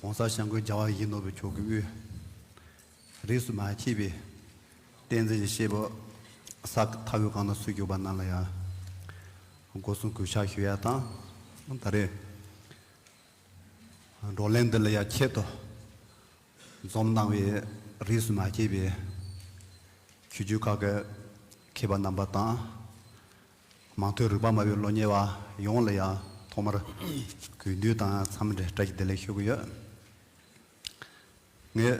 གོང་ས་ཞང་ཀོས་རྒྱ་བ་ཡིག་ནོར་བུ་མཆོག་གི་དབུས། རིས་སུ་མ་མཆིས་པའི་བསྟན་འཛིན་གྱི་གཤེད་པོ། ས་མཐའ་བོད་ཁམས་ན་སུ་བཞུགས་པ་རྣམས་ལ་ཡང། སྒོ་སྲུང་གུས་ཕྱག་ཞུ་ཡ་དང་ད་རེས། བགྲོ་གླེང་འདི་ལ་ཡང་ཆེད་དུ་འཛོམས་གནང་བའི་རིས་སུ་མ་མཆིས་པའི། ཆོས་བརྒྱུད་ཁག་གི་མཁས་པ་རྣམ་པ་དང། མང་ཐོས་རིག་པ་དམའ་བའི་སློབ་གཉེར་བ་ཡོངས་ལ་ཡང་ཐོག་མར་གུས་འདུད་དང་འཚམས་འདྲི་བཀྲ་ཤིས་བདེ་ལེགས་ཞུ་གི་ཡོད། ངས་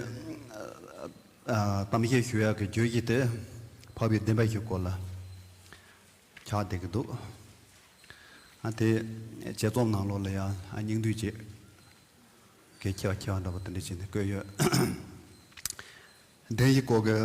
གཏམ་བཤད་ཞུ་ཡག་གི་རྗོད་གཞི་དེ་འཕགས་པའི་བདེན་པ་ཞིག་སྐོར་ལ་ཆགས་བསྡད་ཀྱི་འདུག་དེ་དཔྱད་རྩོམ་ནང་ལོགས་ལ་ཡང་སྙིང་བསྡུས་ཀྱིས་གལ་ཆེ་བ་ཆེ་བ་འདྲ་པོ་དེ་འདྲ་བྱས་ནས་བཀོད་ཡོད། བདེན་གཞི་སྐོར་གྱི།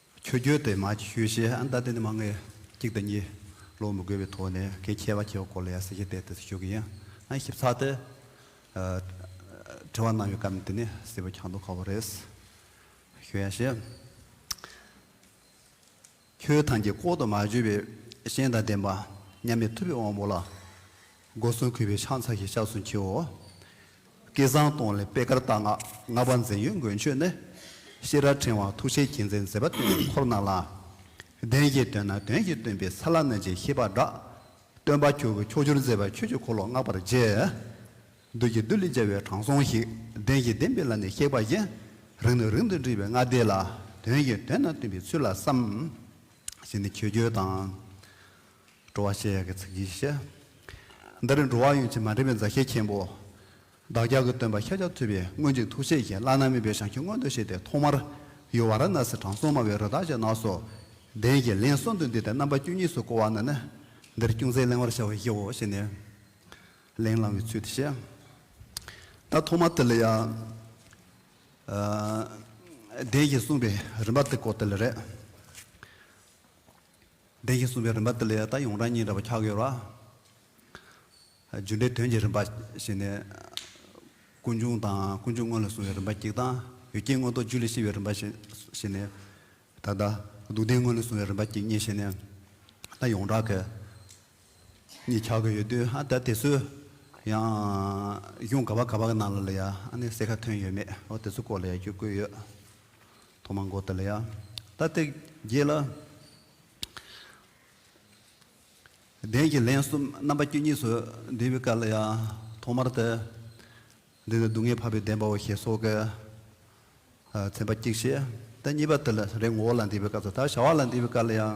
ཁྱོད་རྒྱུད་དེ་མ་ཞུས་ཞེས་ཨ་མདའ་དེ་ནི་མ་ངེས་གཅིག་དང་གཉིས་ལོག་མི་དགོས་པའི་ཐོག་ནས་གལ་ཆེ་བ་ཆེ་བ་སྐོར་ལ་ཡང་གསལ་བཤད་དེ་ལྟར་དུ་ཞུ་གི་ཡིན། ཨ་ཞིབ་ཚགས་དེ། དྲི་བ་གནང་བའི་སྐབས་ནས་དེ་ནི་སྲིད་པ་ཁྱང་ཐོག་ཁ་བོ་རེད། ཞུ་ཡ་ཞེས། ཁྱོད་ཐང་གི་ལྐོག་ཏུ་མ་བརྗོད་པའི་གཞན་དང་ལྡན་པ། མཉམ་མེད་ཐུབ་པའི་དབང་པོ་ལ། སྒོ་གསུམ་གུས་པའི་ཕྱག་འཚལ་ཞེས་སྐྱབས་སུ་མཆིའོ། སྐལ་བཟང་སྟོང་ལས་པད་དཀར་རྟ་ནག་ལྔ་པ་འཛིན་ཡོད་མགོན་ཁྱོད་ནི། ཤེས་རབ་ཕྲེང་བ་ཐུགས་རྗེའི་རྒྱལ་མཚན་མཛེས་པ་སྟོན་པའི་འཁོར་རྣམས་ལ། བདེན་བཞིའི་དོན་རྣམས་དོན་གྱིས་སྟོན་པའི་ས་བླ་མེད་ཅེས་ཤེས་པར་བསྒྲགས། སྟོན་པ་ཁྱོད་ཀྱི་ཕྱོགས་བཅུར་མཛེས་པ་ཁྱོད་ཀྱི་འཁོར་ལོ་བསྔགས་པར་བགྱི། བདུད་ཀྱི་བདུད་ལས་རྒྱལ་བའི་དྲང་སྲོང་ཞིག་བདེན་བཞིའི་བདེན་པའི་ལམ་ནས་གཤེགས་པ་བཞིན། རིང་ནས་རིང་དུ་འདྲིས་པའི་སྔགས་བཟླས་ལ་དོན་གྱིས་དོན་རྣམས་སྟོན་པའི་ཚུལ་ལ་བསམ། ཞེས་ནི་ཆོས་བརྒྱུད་དང། འགྲོ་བ་ཞེས་ཡ་གི་ཚིག་གིས་བཤད། འདི་རུ་འགྲོ་བ་ཡོངས་ཀྱི་མ་འདྲེས་པའི་མཛའ་བཤེས་མཁན་པོ། བདག་ཅག་གི་སྟོན་པ་ཤཱཀྱ་ཐུབ་པས་སྔོན་གྱི་ཐུགས་བཞེད་བཞིན་བླ་ན་མེད་པའི་ཞིང་ཁྱོད་མངོན་དུ་བྱས་ཏེ་ཐོག་མར། ཡུལ་བ་ར་ན་སིའི་དྲང་སྲོང་སྨྲ་བའི་རོལ་དག་ཅེས་གནག་སོ། གདན་གྱི་ལན་གསུམ་དུ་འདི་ལྟར་རྣམ་པ་བཅུ་གཉིས་སུ་བསྐོར་བ་ན་ནི། འདིར་ཅུང་ཟད་གླེང་བར་བྱ་བར་བགྱིའོ་ཞེས་ནས། ལན་བླང་བའི་ཚུལ་དུ་བཤད། ད་ཐོག་མར་ཏཱི་ལི་ཡ། གདན་གྱིས་གསུངས་པའི་རིམ་པ་ཏི་ཀོ་ཏི་ལི་རེད། བདེན་བཞི་གསུམ་པའི་རིམ་པ་འདི་ལས་ད་ཡོང་རང་ཉིད་འདྲ་བ་ཁྱག་ཡོད་ར། རྒྱུ་འབྲས་དོན་གྱི་རིམ་པ་ཞེས་ནས། ཀུན་འབྱུང་དང་ཀུན་འབྱུང་སྔོན་ལ་སོང་བའི་རིམ་པ་གཅིག་དང། ཡུལ་སྐྱེས་མངོན་རྟོགས་རྒྱུད་ལས་སྐྱེས་པའི་རིམ་པ་ཞེས་ནས། ད་ལྟ་སྡུག་བདེན་སྔོན་ལ་སོང་བའི་རིམ་པ་གཅིག་གཉིས་ཞེས་ནས། ད་ཡོང་རང་གི་གཉིས་ཁྱག་གི་ཡོད་དུས་ཨ་ད་དེ་ཚོས་ཡང། གཞུང་ག་བ་ག་བ་གི་ནང་ལ་ལ་ཡང་ཨ་ནི་གསལ་ཁ་ཐོན་ཡོད་མེད་ཨོ་དེ་ཚོ་སྐོར་ལ་ཡང་ཅུང་བཀོད་ཡོད། ཐོག་མ་མགོ་དེ་ལ་ཡང་ལྟ་སྟེ་རྒྱས་ལ། གདན་གྱི་ལན་གསུམ་རྣམ་པ་བཅུ་གཉིས་སུ་བསྡུས་པའི་སྐབས་ལ་ཡང་ཐོག་མར་དེ། འདི་ནི་སྡུག་བསྔལ་འཕགས་པའི་བདེན་པའོ་ཞེས་སོགས་ཀྱིས་མཚན་པ་གཅིག་བྱས། དེ་གཉིས་པ་དེ་ལ་རེས་ངོ་བོ་ལ་འདུས་པའི་སྐབས་སུ་དར། བྱ་བ་ལ་འདུས་པའི་སྐབས་ལ་ཡང།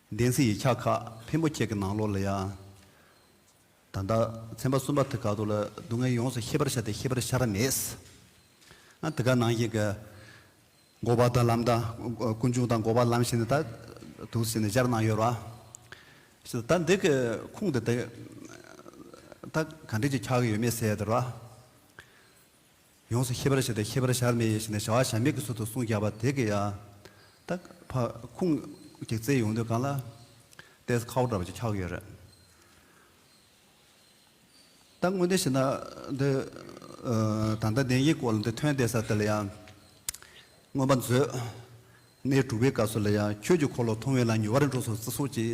བདེན་ཚིག་ཡིག་ཆ་ཁག་ཕན་པོ་ཁྱེད་ཀྱི་ནང་ལོག་ལ་ཡ། ད་ལྟ་ཚན་པ་གསུམ་པ་དེ་ག་དུ་ལ་སྡུག་བསྔལ་ཡོངས་སུ་ཤེས་པར་བྱ་སྟེ་ཤེས་པར་བྱ་ར་མེད། ཨ་དེ་ག་ནང་བཞིན་གྱི། འགོ་བ་དང་ལམ་དང། ཀུན་འབྱུང་དང་འགོ་བ་ལམ་ཞེས་ནས་ད་དུ་ཟེར་ནས་སྦྱར་གནང་ཡོད་ར། ཞེས་ད་འདི་གི་ཁུངས་དེ་དེ། ད་ག་འགྲེལ་གྱིས་ཁྱག་གི་ཡོད་མེད་ཟེར་ཡོད་དེ་ར། ཡོངས་སུ་ཤེས་པར་བྱས་ཏེ་ཤེས་པར་བྱར་མེད་ཡེ་ཤེས་ནི་བྱ་བ་བྱར་མེད་ཀྱི་ཚུལ་དུ་གསུངས་རྒྱགས་པ་དེ་གི་ཡ། ད། ཕ། ཁུང། གི་རྩེ་ཡོང་དུས་གང་ལ། ཏེས་ཁའོ་འདྲ་བ་ཅིག་འཁྱགས་ཡོད་རེད། ད། དངོས་བདེན་ཞེ་ན། འདི། ད་ལྟ་བདེན་གྱི་སྐོར་ལ་འདི་ཐོན་ཏེ་ས་དེ་ལ་ཡང། མངོན་པར་མཛོད། གནས་དྲུག་པའི་སྐབས་སུ་ལ་ཡང་ཁྱོད་ཀྱི་འཁོར་ལོ་མཐོང་བས་ལ་ཉུལ་བ་རིང་འཕྲོག་སོགས་བརྩི་སྲོག་ཅིག།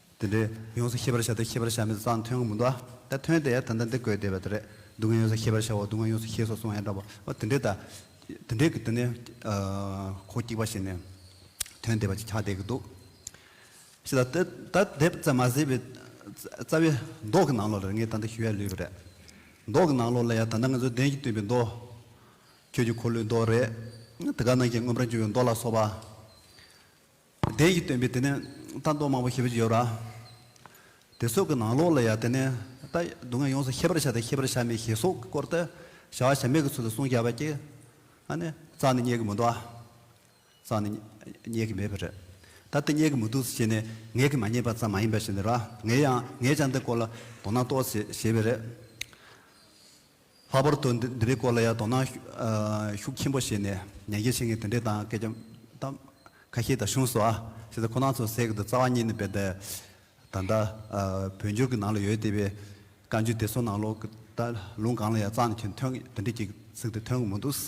འདི་འདྲས་ཡོངས་སུ་ཤེས་པར་བྱ་སྟེ་ཤེས་པར་བྱ་མི་ཚ་ཙང་ཐོན་གྱི་མི་འདུག་ཨ། ད་ཐོན་ཏེ་ད་ལྟ་འདི་དགོས་བསྡད་པ་དེ་རེད། སྡུག་བསྔལ་ཡོངས་སུ་ཤེས་པར་བྱའོ་སྡུག་བསྔལ་ཡོངས་སུ་ཤེས་སོ་གསུངས་ཡང་འདྲ་བའོ། འདི་འདྲས་ད། འདི་འདྲས་ཀྱི་འདི་ནི། ཁོག་སྐྱིགས་པ་ཞིག་ནས། ཐོན་བསྡད་པ་ཅིག་ཆགས་བསྡད་ཀྱི་འདུག། ཤི་ད། ད་དེབ་བཙལ་མ་ཟིན་པའི། རྩ་བའི་མདོག་གི་ནང་ལོགས་ལ་ངས་ད་ལྟ་ཞུ་ཡ་ལུས་པ་རེད། མདོག་གི་ནང་ལོགས་ལ་ཡང་ད་ལྟ་ང་ཚོའི་གདན་གྱིས་བཏིངས་པའི་མདོག། ཁྱོད་ཀྱི་འཁོར་ལོའི་མདོག་རེད། དེ་ག་ནང་གི་སྔོན་པོར་འབྱུང་བའི་མདོག་ལ་སོགས་པ། བདེན་ཞེས་སྟོན་པའི་དེ་ནས་རྟ་འདོགས་མང་པོ་ཞེས་པ་ཅིག་ཡོད་ལ། དེ་སོགས་ཀྱི་ནང་ལོགས་ལ་ཡང་དེ་ནས་རྟ་སྡུག་བསྔལ་ཡོངས་སུ་ཤེས་པར་བྱ་དང་ཤེས་པར་བྱ་མིན་ཞེས་སོགས་ཀྱི་སྐོར་དུ་བྱ་བ་བྱ་མེད་ཀྱི་ཚུལ་དུ་གསུངས་བྱ་བ་ཀྱི། ཨ་ནི། རྩྭ་ནི་རྙེད་ཀྱི་མི་འདུག་ཨ། རྩྭ་ནི་རྙེད་ཀྱི་མེད་པར་རེད། ད་དེ་རྙེད་ཀྱི་མི་འདུག་ཟེར་བྱས་ནས་ངེད་ཀྱིས་མ་རྙེད་པ་ཙམ་མ་ཡིན་པ་ཞིག་འདི་ར་ངེད་ཡང་ངེད་ཅག་འདི་སྐོར་ལ་དོ་སྣང་གཏོགས་ཟེར་བྱས་པས་རེད། ལྷག་པར་དུ་འདི་འདི་རིགས་སྐོར་ལ་ཡང་དོ་སྣང་ཤུགས་ཆེན་པོ་བྱས་ནས་ཉན་མཁན་ཞིག་ངས་དེ་འདྲའི་དང་སྐད་ཆ་དང། ཁ་ཤས་དང་གཞུང་སོགས་ཨ་ཤེས་ཚེ་ཁོ་ན་ཚོ་ཟེར་གི་འདུག་རྩ་བ་ཉིད་ནི་བས་དེ་ད་ལྟ་བོད་འགྱུར་གྱི་ནང་ལ་ཡོད་བསྡད་པའི་བཀའ་འགྱུར་དེ་ཚོ་ནང་ལོ་གི་ད་ལུང་གང་ལ་ཡང་གཙང་ནས་ཁྱོད་ཐོན་དེ་འདྲས་ཀྱི་ཚིག་དེ་ཐོན་གི་མི་འདུག།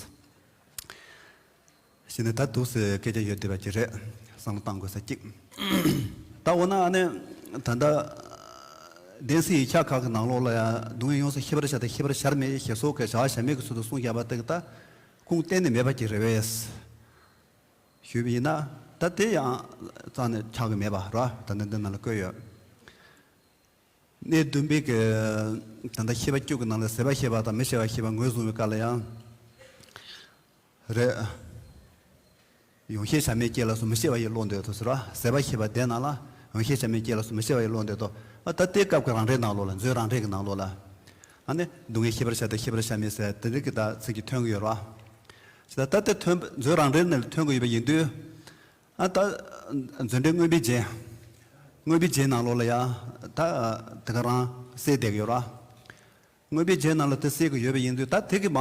གཞི་ནས་ད་སྡུག་སའི་སྐད་ཆ་ཡོད་བསྡད་པ་གྱི་རེད་བསམ་བློ་གཏང་དགོས་ས་གཅིག། ད་འོ་ན་ཨ་ནེ་ད་ལྟ་བདེན་སི་ཡི་ཁྱག་ཁག་གི་ནང་ལོགས་ལ་ཡང་སྡུག་བསྔལ་ཡོང་ས་ཤི་བར་བྱ་དང་ཤི་བར་བྱར་མེད་ཞེས་སོག་གེ་བྱ་བ་བྱ་མེད་ཀྱི་ཚུལ་དུ་གསུང་བཞག་པ་དེ་གི་ད་ཁུངས་གཏན་ནས་མེད་པ་གྱི་རེད་བས། ཞུས་པ་ཡིན་ན་ད་དེ་ཡང་རྩ་ནས་ཆགས་ཀྱི་མེད་པ་ར་ད་ནི་འདི་ནང་ལ་བཀོད་ཡོད། གནས་བདུན་པའི་གི་ད་ལྟ་ཤི་བ་སྐྱུག་གི་ནང་ལ་ཟེར་བ་ཤེས་པ་དང་མི་ཤེས་པ་ཤེས་པ་ངོས་བཟུང་བའི་བཀའ་ལ་ཡང། རེད། ཡོངས་ཤེས་བྱ་མེད་སྐྱེས་ལ་སུ་མི་ཤེས་པ་ཡི་བློ་འདོད་དོ་ཟེར་བ་ཟད་པ་ཤེས་པ་དེ་ནང་ལ་ཡོངས་ཤེས་བྱ་མེད་སྐྱེས་ལ་སུ་མི་ཤེས་པ་ཡི་བློ་འདོད་དོ། ད་ལྟའི་སྐབས་ཀྱི་རང་རེའི་ནང་ལོགས་ལ་མཛོད་རང་རེ་གི་ནང་ལོགས་ལ། ཨ་ནི་སྡུག་བསྔལ་ཤེས་པར་བྱ་དང་ཤེས་པར་བྱ་མེད་ཟེར་དེ་འདྲ་གི་དག་ཚིག་གི་ཐོན་གི་ཡོད་རོ། ཇི་ལྟར་ད་ལྟའི་ཐོན་མཛོད་རང་རེ་ནས་ཐོན་གི་ཡོད་པ་ཡིན་དུས། ཨ་ད་མཛོད་འགྲེལ་དངོས་པའི་རྗེས། དངོས་པའི་རྗེས་ནང་ལོགས་ལ་ཡང་དག་དེ་ག་རང་གསལ་བསྡད་གི་ཡོད་རོ། དངོས་པའི་རྗེས་གནང་ལ་དེ་སྲིད་ཀྱི་ཡོད་པ་ཡིན་དུས་ད་ཐེག་གི་མ་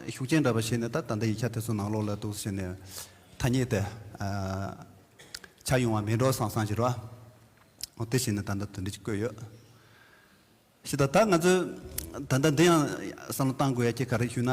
ཤུགས་ཅན་འདྲ་པ་ཞིག་ནི་ད་ད་ལྟ་ཡིག་ཆ་དེ་ཚོ་ནང་ལོགས་ལ་འདུག་ཟེར་ནས་ཐ་སྙད་དེ་ཆགས་ཡོང་བ་མིན་འགྲོ་སང་སང་ཞིག་རོ། འོ་དེ་བཞིན་ནི་ད་ལྟ་དོན་འགྲེལ་གྱིས་བཀོད་ཡོད། ཞེས་དང་ད་ང་ཚོས་ད་ལྟ་འདི་ཡང་བསམ་བློ་གཏང་དགོས་ཡ་སྐྱེས་ག་རེ་ཞུས་ན།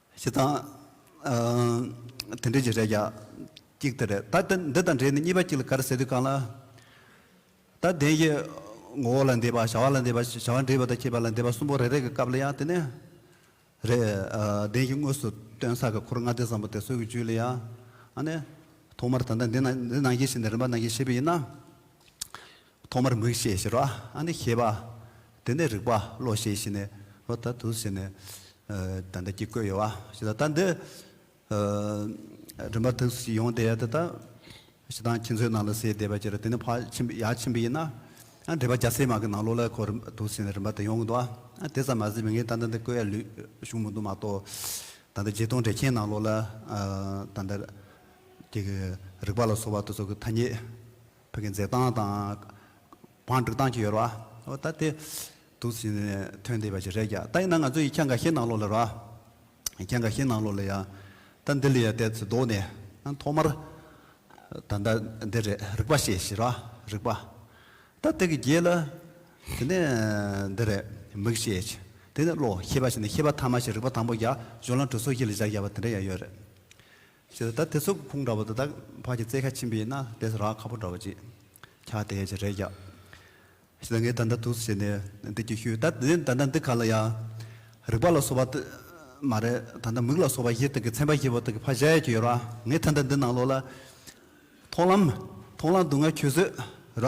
ཞེས་དང། དེ་འབྲེལ་གྱི་རེ་བརྒྱ། གཅིག་དེ་རེད། ད་འདི་དང་འབྲེལ་ནས་གཉིས་པ་གཅིག་ལ་ག་རེ་ཟེར་དུས་གང་ལ། ད་དེང་གི་ངོ་བོ་ལ་འདས་པ་བྱ་བ་ལ་འདས་པ་བྱ་བ་འདྲེས་པ་དང་བཅས་པ་ལ་འདས་པ་གསུམ་པོ་རེ་རེ་གི་སྐབས་ལ་ཡང་དེ་ནི། རེད། དེང་གི་དངོས་སུ་སྟོན་ས་གི་འཁོར་ལྔ་སྡེ་ཙམ་པོ་དེ་སྲོད་ཀྱི་རྒྱུད་ལ་ཡང། ཐོག་མར་ད་ལྟ་འདི་ནང་གི་ཞིག་ནས་རིམ་པ་ནང་གི་ཤེས་པ་ཡིན་ན། ཐོག་མར་མིག་ཤེས་ཞེས་རོ། ཨ་ནི་ཤེས་པ། དེ་ནས་རིག་པ་བློ་ཤེས་ཤེས་ནས་རོ། ད་དུ་ཟེར་ནས། ད་ལྟ་ཀྱི་བཀོད་ཡོད་བ། ཞེས་དང། ད་འདི། རིམ་པ་དུག་གསུམ་གྱི་ཡོན་ཏན་ཡལ་དུ་བལྟ། ཞེས་དང། ཁྱེད་ཚོའི་ནང་ལ་སའི་བདེ་བ་སྐྱེ་རུ་དེ་ནི་ཕ་ཆེན་པོ་ཡ་ཆེན་པོ་ཡིན། ཨ་འདྲེས་པ་རྒྱ་སེ་མ་གི་ནང་ལོག་ལ་ཁོ་རིམ་པ་དུག་ཟེར་ནས་རིམ་པ་དུ་ཡོང་གི་འདུག་ཨ། དེ་ཙམ་མ་ཟད་མི་ངན་ད་ལྟ་འདི་བཀོད་ཡ་ལུས་ཞུགས་མི་འདུག་མ་གཏོགས། ད་ལྟ་རྗེ་སྟོང་འདྲེ་ཁྱེད་ནང་ལོག་ལ། ད་ལྟ། ཀྱི་རིག་པ་ལ་སོགས་པ་དུ་ཚོགས་ཀྱི་ཐ་སྙད། བོད་ཀྱི་མཛེས་སྟངས་དང། བང་སྒྲིག་སྟངས་ཀྱི་ཡོད་ར། ཨོ་ད་དེ། དུག་ཟིན་ནས་ཐོན་བསྡད་པ་ཞིག་རེད་ཀྱང་ད་ཡིན་ན་ང་ཚོ་ཡིག་ཆ་འགའ་ཤས་ནང་ལོགས་ལ་ར། ཡིག་ཆ་འགའ་ཤས་ནང་ལོགས་ལ་ཡང། ད་འདི་ལ་ཡང་བསྡད་ཚུལ་མདོག་ནས། ཨང་ཐོག་མར། ད་ལྟ་འདི་རེད་རིག་པ་ཤེས་ཤིག་ར། རིག་པ། ད་དེ་གི་རྗེས་ལ། དེ་ནས། འདི་རེད། མིག་ཤེས་ཤིག། དེ་ནས་བློ་ཤེས་པ་ཞིག་ནས་ཤེས་པ་ཐ་མ་ཞིག་རིག་པ་དང་པོ་བརྒྱ། གཞུང་ལམ་གྲོས་ཚོགས་ཤིག་ལ་བཞག་བཞག་པ་དེ་འདྲ་ཡང་ཡོད་རེད། ཞེས་དང་ད་དེ་ཚོ་ཕུང་འདྲ་བོ་དེ་དག་ཕག་གི་རྩེ་ཁ་ཆེན་པོའི་ན་དེ་སུ་རག་ཁ་པོ་འདྲ་བོ་ཅིག་ཁྱག་དེ་ཞེས་རེད་ཀྱག། ཞེས་དང་ངས་ད་ད་དུགས་སུ་བྱས་ནས་འདི་གྱིས་ཤུལ་ད་དེ་ད་ད་འདི་ག་ལ་ཡ། རིག་པ་ལ་སོགས་པ་དེ་མ་རེད་ད་ད་མིག་ལ་སོགས་པ་བཞི་དག་གི་ཚན་པ་བཞི་པོ་དག་གི་ཕ་གཞལ་ཡས་ཀྱི་ཡོད་ར་ངས་ད་ད་འདི་ནང་ལོགས་ལ། མཐོང་ལམ་མཐོང་ལམ་དུ་ང་ཁྱོད་བཟོད་ར།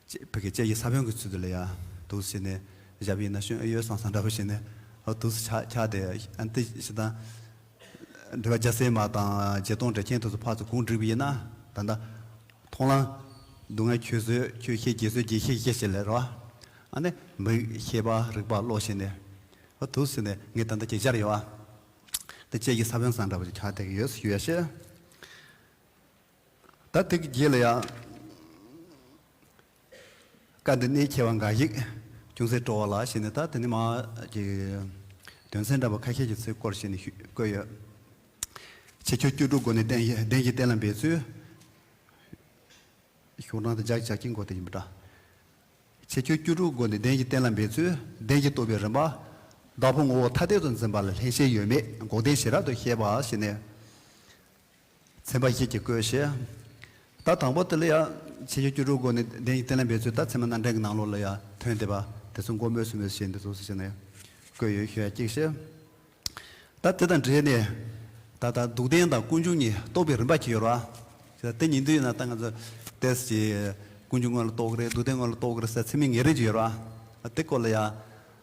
ཅེས་བོད་ཀྱི་སྐྱེས་ཀྱི་ས་བོན་གྱི་ཚུལ་དུ་ལས་ཡང་དུག་བྱས་ནས་བཞག་པས་ན་གཞོན་ཨུ་ཡོལ་སང་སང་འདྲ་བོ་བྱས་ནས་དུག་སུ་ཆགས་ཆགས་ཏེ་ཨན་ཏི་ཞེ་སྡང། འདྲི་བ་རྒྱ་སེ་མ་དང་རྗེ་སྟོང་འདྲེ་ཁྱེད་དུག་སུ་ཕག་སུ་གུང་བསྒྲིགས་པ་ཡིན་ན་ད་ནི་མཐོང་ལ། སྡུག་བསྔལ་ཁྱོད་བཟོད་ཁྱོད་ཤེས་རྒྱལ་བཟོད་རྒྱལ་ཤེས་ཤེས་ཞེས་ལས་རོ། ཨ་ནི་མིག་ཤེས་པ་རིག་པ་བློ་བྱས་ནས། དུག་བྱས་ནས་ངས་ད་ལྟ་ཁྱེད་ཅར་ཡོད། འདི་སྐྱེས་ཀྱི་ས་བོན་སང་འདྲ་བོ་ཆགས་ཏེ་ཡོད་ཞུས་ཡ་ཤི། ད་ཐེག་བརྒྱད་ལ་ཡང། བཀའ་འདི་གནད་ཁྱེར་བ་འགའ་ཞིག་ཅུང་ཟད་སྤྲོ་བ་ལགས་ཞེས་ནས་ད་དེ་ནས་མ་ཀྱི། དོན་ཚན་འདྲ་བ་ཁ་ཤས་ཀྱི་ཚུལ་སྐོར་ཞེས་ནས་བཀོད་ཡོད། ཕྱིས་ཆོས་བཅུ་དྲུག་སྒོ་ནས་བསྟན་བདེན་གྱི་གཏན་ལ་འབེབས་ཚུལ། ཞོགས་གྲངས་དང་སྦྱར་ཞག་གཅིག་འགོར་དེ་ཡིན་པ་འདྲ། ཕྱིས་ཆོས་བཅུ་དྲུག་སྒོ་ནས་བདེན་གྱི་གཏན་ལ་འབེབས་ཚུལ་བདེན་གྱི་རྟོག་པའི་རིམ་པ། བདག་པོ་ངོ་བོ་ཐ་དད་དུ་འཛིན་པ་ལ་ལྷན་སྐྱེས་ཡོད་མེད་འགོག་བདེན་ཞེས་རབ་ཏུ་ཤེས་པ་ཞེས་ནས། ཚན་པ་ཞིག་གིས་བཀོད་བཤད། ད་དང་པོ་དེ་ལ་ཡང་ཕྱི་ཆོས་བཅུ་དྲུག་སྒོ་ནས་བདེན་གཉིས་གཏན་ལ་འབེབས་ཚུལ་ད་ཚད་མ་རྣམ་འགྲེལ་གྱི་ནང་ལོགས་ལ་ཡང་དོན་དེ་པ་དེ་ཚོ་མགོ་སྨོས་སུ་མེད་ཞེས་འདི་ཚོ་སུ་ཞིག་ནས་བཀོད་ཡོད་ཞེས་གཅིག་བཤད། ད་དེ་དང་འབྲེལ་ནས་ད་ལྟ་སྡུག་བདེན་དང་ཀུན་འབྱུང་གཉིས་རྟོགས་པའི་རིམ་པ་གཅིག་ཡོད་ར། ཅེས་དེ་གཉིས་འདུས་ཡོད་ན་ད་ང་ཚོ་ལྟས་ཀྱི་ཀུན་འབྱུང་དངོས་ལ་རྟོགས་ཀྱི་རེད་སྡུག་བདེན་དངོས་ལ་རྟོགས་ཀྱི་རེད་ཟེར་ཚེ་མིང་ངེས་རེ་གཅིག་ཡོད་ར། དེ་སྐོར་ལ་ཡང།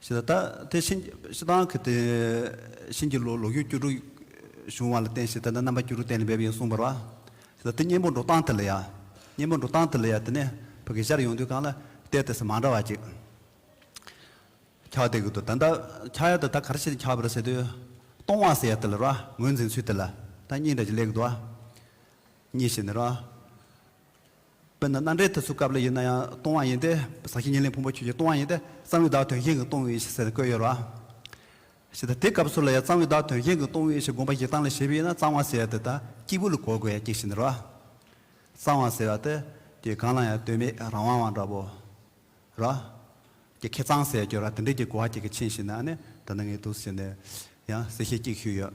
ཞེས་དང། དེ་ཕྱིན་ཅི་ལྟར་གྱི་དེ་བཞིན་གྱི་ལོ་རྒྱུས་བཅུ་དྲུག་བྱུང་བ་ལ་བརྟེན་ཞེས་དེ་ནི་རྣམ་པ་བཅུ་དྲུག་གཏན་ལ་འབེབས་ཡིན་གསུངས་པར། ཞེས་དང། དེ་གཉེན་པོ་འགྲོ་སྟངས་དེ་ལ་ཡང། གཉེན་པོ་འགྲོ་སྟངས་དེ་ལ་ཡང་དེ་ནི་བོད་ཀྱི་ཤར་ཡོང་དུས་གང་ལ་བལྟས་དེ་སྲིད་མ་འདྲ་བ་ཅིག་ཁྱག་དེ་གི་དུ་ད་ལྟ་ཁྱག་ཡ་དེ་ད་ག་རེ་བྱས་ཏེ་ཁྱག་པ་རེད་ཟེར་དུས། སྟོང་བ་ཟེར་ཡ་དེ་ལ་ར་ངོས་འཛིན་ཚུལ་དེ་ལ་ད་གཉིས་འདྲ་ཅིག་ལེགས་གི་འདུག་ཨ། གཉིས་ཞེས་ནི་ར། དཔེར་ན་སྣ་འདྲེན་དུ་ཚུགས་སྐབས་ལ་ཡོད་ན་ཡང་སྟོང་བ་ཡིན་ཏེ། ཟག་བཞིན་ཉེར་ལེན་ཕུང་པོ་ཆོས་ཀྱི་སྟོང་བ་ཡིན་ཏེ། གཙང་བའི་བདག་དོན་གཞན་གྱི་སྟོང་བའི་ཡེ་ཤེས་ཟེར་ཏེ་བཀོད་ཡོད་ལ། ཞེས་དང། དེ་སྐབས་སུ་ལ་ཡང་གཙང་བའི་བདག་དོན་གཞན་གྱི་སྟོང་བའི་ཡེ་ཤེས་བསྒོམ་པ་ཞིག་བཏང་ལ་ཞེས་པས་ན་གཙང་བ་ཟེར་ཏེ། སྐྱེས་བུ་ལ་གོ་དགོས་ཡང་སྐྱེ་ཤི་འདིར་བ། གཙང་བ་ཟེར་བ་སྟེ། དེ་གང་ལ་ཡང་ལྟོས་མེད་རང་དབང་བ་འདྲ་བོ། ར། ཀྱི་ཁེ་གཙང་ཟེར་གྱི་ར་དེ་འདྲས་ཀྱི་གོ་བ་གཅིག་གིས་ཕྱིན་ཞིག་ན་ནི་དེ་ལྟ་ངེས་འདུག་ཟེར་ནས། ཡང་གསལ་བཤད་གཅིག་ཞུས་ཡོད།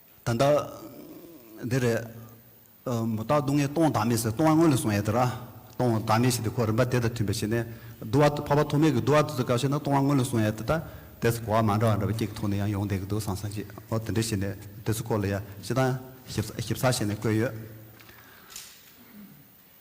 ད་ལྟ། འདི་རེད། མུ་སྟག་སྡུག་བསྔལ་སྟོང་བདག་མེད་ཟེར་སྟོང་བ་དངོས་ལ་བཟུང་ཡ་ད་ར། སྟོང་བདག་མེད་ཞིག་དེ་ཁོ་རིམ་པ་དེ་དང་མཐུན་པ་ཞིག་ནས། བསྡུ་བ་འཕགས་པ་ཐོགས་མེད་ཀྱི་བསྡུ་བ་དུས་ཚོད་སྐབས་ཤིག་ན་སྟོང་བ་དངོས་ལ་བཟུང་ཡ་ད་ལྟ། དེ་ཚོ་གོ་བ་མ་འདྲ་བ་འདྲ་བ་སྐྱིད་ཀྱི་ཐོག་ནས་ཡང་ཡོང་བསྡད་ཀྱི་འདུག་སང་སང་ཅིག་ཨོ་དེ་འདྲའི་ཞིག་ནས་དེ་ཚོ་སྐོར་ལ་ཡ་ཞེ་སྡང་ཞིབ་ཚགས་ཞིག་ནས་བཀོད་ཡོད།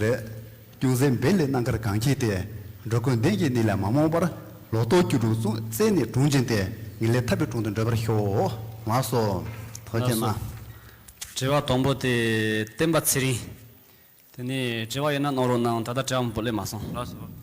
རེད། ཅུང་ཟད་འབད་ལས་གནང་ཁར་གང་ཁྱེད་དེ། འགྲོ་ཀུན་ལྡན་གྱི་ནི་ལས་མ་རྨོངས་པར། ལོ་ཏོག་སྐྱུ་འབྲུག་གསུང་བཙན་ནི་དྲུང་བྱིན་ཏེ། ངེས་ལེགས་ཐར་པའི་དྲུང་དུ་འབྲོས་པར་ཤོག། ལགས་སོ། དོ་རྒྱལ་མ། དྲི་བ་དང་པོ་དེ་བསྟན་པ་ཚེ་རིང། དེ་ནས་དྲི་བ་ཡོད་ན་གནང་རོགས་གནང་ད་ལྟ་དྲི་བ་མང་པོ་སླེབས་མ་སོང། ལགས་སོ།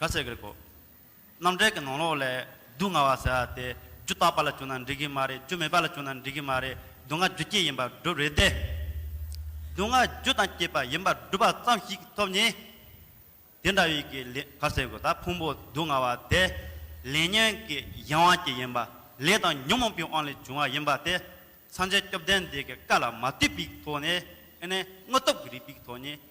ག་ཟེར་གི་གོ། རྣམ་འགྲེལ་གྱི་ནང་ལོགས་ལས་སྡུག་བསྔལ་བ་ཟེར་བ་དེ་རྒྱུ་རྟག་པ་ལ་བཅུག་ན་འགྲིག་གི་མ་རེད་རྒྱུ་མེད་པ་ལ་བཅུག་ན་འགྲིག་གི་མ་རེད་སྡུག་བསྔལ་རྒྱུ་སྐྱེས་ཡིན་པར་སྒྲུབ་རེད་དེ། སྡུག་བསྔལ་རྒྱུ་དང་སྐྱེས་པ་ཡིན་པར་སྒྲུབ་པ་ཙམ་ཞིག་ཐོབ་ནས། དེ་འདྲ་བའི་གི་ལས་ག་ཟེར་གི་ད་ཕུང་པོ་སྡུག་བསྔལ་བ་དེ་ལས་ཉོན་གྱི་གཞན་དབང་གྱིས་ཡིན་པ་ལས་དང་ཉོན་མོངས་པའི་དབང་ལས་བྱུང་བ་ཡིན་པ་དེ་སངས་རྒྱས་སྐྱོབ་ལྡན་འདས་ཀྱི་བཀའ་ལ་མ་ལྟོས་པའི་ཐོག་ནས་ཨེ་ནས་དངོས་སྟོབས་ཀྱི་རིགས་པའི་ཐོག་ནས་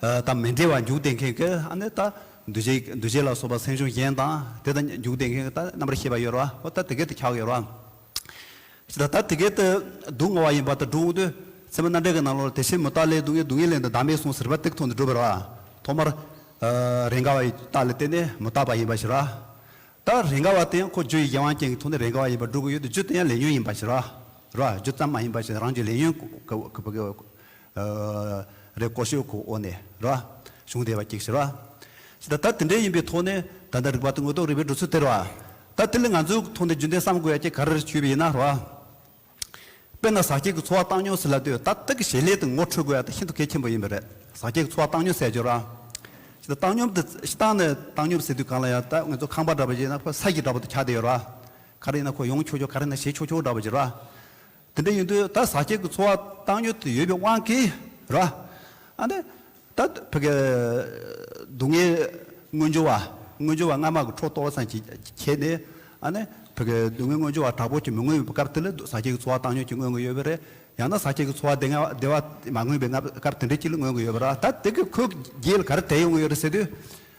དང་མི་འབྲལ་བར་འཇུག་བདེ་མཁན་གྱི་ཨ་ནི་ད་འདུ་བྱེད་འདུ་བྱེད་ལ་སོགས་པ་སེམས་བྱུང་གཞན་དང་དེ་དང་འཇུག་བདེ་མཁན་གྱི་ད་རྣམ་པར་ཤེས་པ་ཡོད་ར་བ་ད་དེ་སྐད་དུ་འཁྱག་ཡོད་ར་བ། ཅི་ད་ད་དེ་སྐད་དུ་སྡུག་བསྔལ་བ་ཡིན་པ་ད་སྒྲུང་དུས་ཚད་མ་རྣམ་འགྲེལ་གྱི་ནང་ལོར་དེ་ཕྱིར་མུ་སྟག་ལའི་སྡུག་བསྔལ་སྡུག་བསྔལ་ལས་འདི་བདག་མེད་གསུངས་ཟེར་བ་སྟེགས་ཐོག་ནས་བསྒྲུབས་པ་ར་ཐོག་མར། རེས་འགའ་བ་ཡི་སྟག་ལ་བརྟེན་ནས་མུ་སྟག་པ་ཡིན་པ་ཞིག་ར། ད་རེས་འགའ་བ་དེ་ཁོ་རྗོ་ཡི་རྒྱལ་དབང་ཅན་གྱི་ཐུགས་ནས་རེས་འགའ་བ་ཡིན་པར་སྒྲུབ་ཀྱི་ཡོད་དུ་རྗོ་དེ་ཡང་ལས་ཉོན་ཡིན་པ་ཞིག་ར་ར་རྗོ་ཙམ་མ་ཡིན་པ་ཞིག་རང་གཅོད་ལས་ཉོན་གྱི་བ་ག། རེ་ཀོ་ཤོད་ཁོ་འོ་ནས་ར། གཞུང་བདེ་བ་སྐྱེགས་ཤི་ར། ད་ད་དེ་འདྲས་ཡིན་པའི་ཐོག་ནས་ད་ལྟ་རིག་པ་དང་དངོས་རྟོགས་རིག་པའི་འགྲོ་ཚུལ་དེར་བ། ད་དེ་ལས་ང་ཚོའི་ཐོག་ནས་རྒྱུན་ལྡན་བསམ་དགོས་ཡ་ཀྱེ་ག་རེར་ཆུད་པ་ཡིན་ན་ར། དཔེར་ན་ཟག་སྐྱེགས་ཀྱི་འཚོ་བ་བཏང་མྱོང་ཟེར་ལབ་དུས་ད་ལྟ་གི་ཞལ་ལས་དང་ངོ་འཕྲོད་དགོས་ཡ་ད་ཤིན་ཏུ་གལ་ཆེན་པོ་ཡིན་པ་རེད། ཟག་སྐྱེགས་ཀྱི་འཚོ་བ་བཏང་མྱོང་ཟེར་རྒྱུ་ར། ད་བཏང་མྱོང་དེ་ཤི་བཏང་ནས་བཏང་མྱོང་ཟེར་དུས་གང་ལ་ཡང་ད་ང་ཚོ་ཁང་པ་འདྲ་པ་ཞིག་ན་ཕོ་ས་ཀྱི་འདྲ་པོ་དུ་ཁྱག་དེ་ཡོད་ར། ག་རེ་ཡིན་ན་ཁོ་ཡོང་ཆོག་ཆོག་ག་རེ་ཡིན་ན་བྱེད་ཆོག་ཆོག་འདྲ་པོ་ཞིག་ར། དེ་འདྲ་ཡིན་དུས་ད་ཟ་སྐྱེལ་གྱི་འཚོ་བ་བཏང་ཡོད་དུ་ཡོད་པའི་དབང་གིས་ར། ཨ་ནི། ད་ཕི་གའི་སྡུག་བསྔལ་སྔོན་འཇོ་བ་སྔོན་འཇོ་བ་སྔ་མ་གི་འཕྲོ་གཏོར་བ་ཙམ་གྱིས་ཁྱད་ནས། ཨ་ནི། ཕི་གའི་སྡུག་བསྔལ་སྔོན་འཇོ་བ་དྲག་པོ་གྱིས་མི་མངོན་པའི་སྐབས་དེ་ལ་ཟ་སྐྱེལ་གྱི་འཚོ་བ་བཏང་ཡོད་ཀྱིས་མངོན་གྱི་ཡོད་པས་རེད། ཡང་ན་ཟ་སྐྱེལ་གྱི་འཚོ་བ་བདེ་བ་མ་མངོན་པའི་སྐབས་དེ་འདྲའི་གྱིས་ལ་མངོན་གྱི་ཡོད་པས་ར། ད་དེ་གི་ཁོས་རྒྱའི་ལ་ག་རེ་བལྟས་ཡོང་གི་ཡོད་རེད་ཟེར་དུས།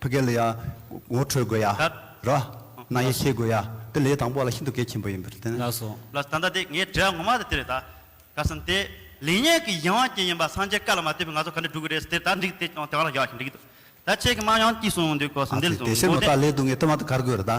ཕ་གལ་ལ་ཡང་ངོ་འཕྲོད་དགོས་ཡ་ར། ནང་ཡེ་ཤེས་དགོས་ཡ་དེ་ལས་དང་པོ་ལ་ཤིན་ཏུ་གལ་ཆེན་པོ་ཡིན་པར་བརྟེན། ལགས་སོ། ལ་ད་ལྟ་དེ་ངའི་དྲི་བ་ངོ་མ་དེ་དེ་རེད་ད། ག་སོང་དེ། ལེགས་ཉེས་ཀྱི་ཡིན་དབང་ཅན་ཡིན་པ་སངས་རྒྱས་བཀའ་ལ་མ་བལྟས་པའི་ང་ཚོ་ག་འདྲས་སྒྲུབ་གི་རེད་ཟེར་དེ་ད་འགྲིག་དེ་ཀྱང་དེ་ག་ལ་ཡག་ཞིག་འགྲིག་གི་འདུག་ད་ཁྱེད་ཀྱི་དམངས་ཡང་སྐྱིད་སོང་འདུག་གོ་ཟིན་འདེད་སོང་འདུག་འོ་དེ།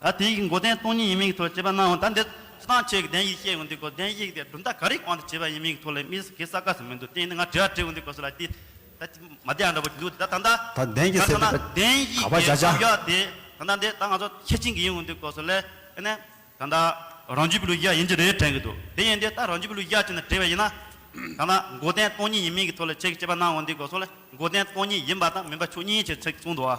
ད་དེའི་མགོ་རྟེན་སྟོང་ཉིད་ཡིན་མིན་གྱི་ཐོག་ཅེས་པ་ནའང་ད་འདི་སྤྱི་སྟངས་ཆོས་ཀྱི་གདན་ཞིག་བཤད་དགོས་འདུག་གོ་གདན་ཞིག་དེ་གྲུབ་མཐའ་ག་རེའི་དབང་དུ་བྱས་པ་ཡིན་མིན་གྱི་ཐོག་ལས་མི་གེ་ས་ག་ཟིག་མི་འདུག་རྟེན་འདི་ང་དྲི་བ་དྲི་དགོས་འདུག་གོ་ཟེར་ལ་དེས་ད་ཅི་མ་བདེ་ཡང་འདྲ་བོ་འདུག་ད་ད་ལྟ་ད་གདན་གྱི་གསལ་ཐིག་པ་གདན་ག་པ་ཞིག་བཞག་གི་བསམ་བྱ་ཡོད་དེ་ད་ལྟ་འདི་ད་ང་ཚོ་ཁྱེད་ཅན་གྱི་ཡིན་འོང་འདུག་གོ་ཟེར་ལས་ཨེ་ནས་ད་ད་རང་རྒྱུད་པའི་ལུས་གཞག་ཡིན་གྱི་རེད་དྲན་གྱི་འདུག་དེ་ཡིན་དེ་ད་རང་རྒྱུད་པའི་ལུས་གཞག་ཅིག་ན་དྲི་བ་ཡིན་ན་ད་ད་མགོ་རྟེན་སྟོང་ཉིད་ཡིན་མིན་གྱི་ཐོག་ལས་ཁྱེད་ཀྱིས་ཅེས་པ་ནའང་འོང་འདུག་གོ་ཟེར་ལས་མགོ་རྟེན་སྟོང་ཉིད་ཡིན་པ་དང་མིན་པ་ཆོས་ཉིད་ཅེས་ཚིག་གསུངས་འདུག་ཨ།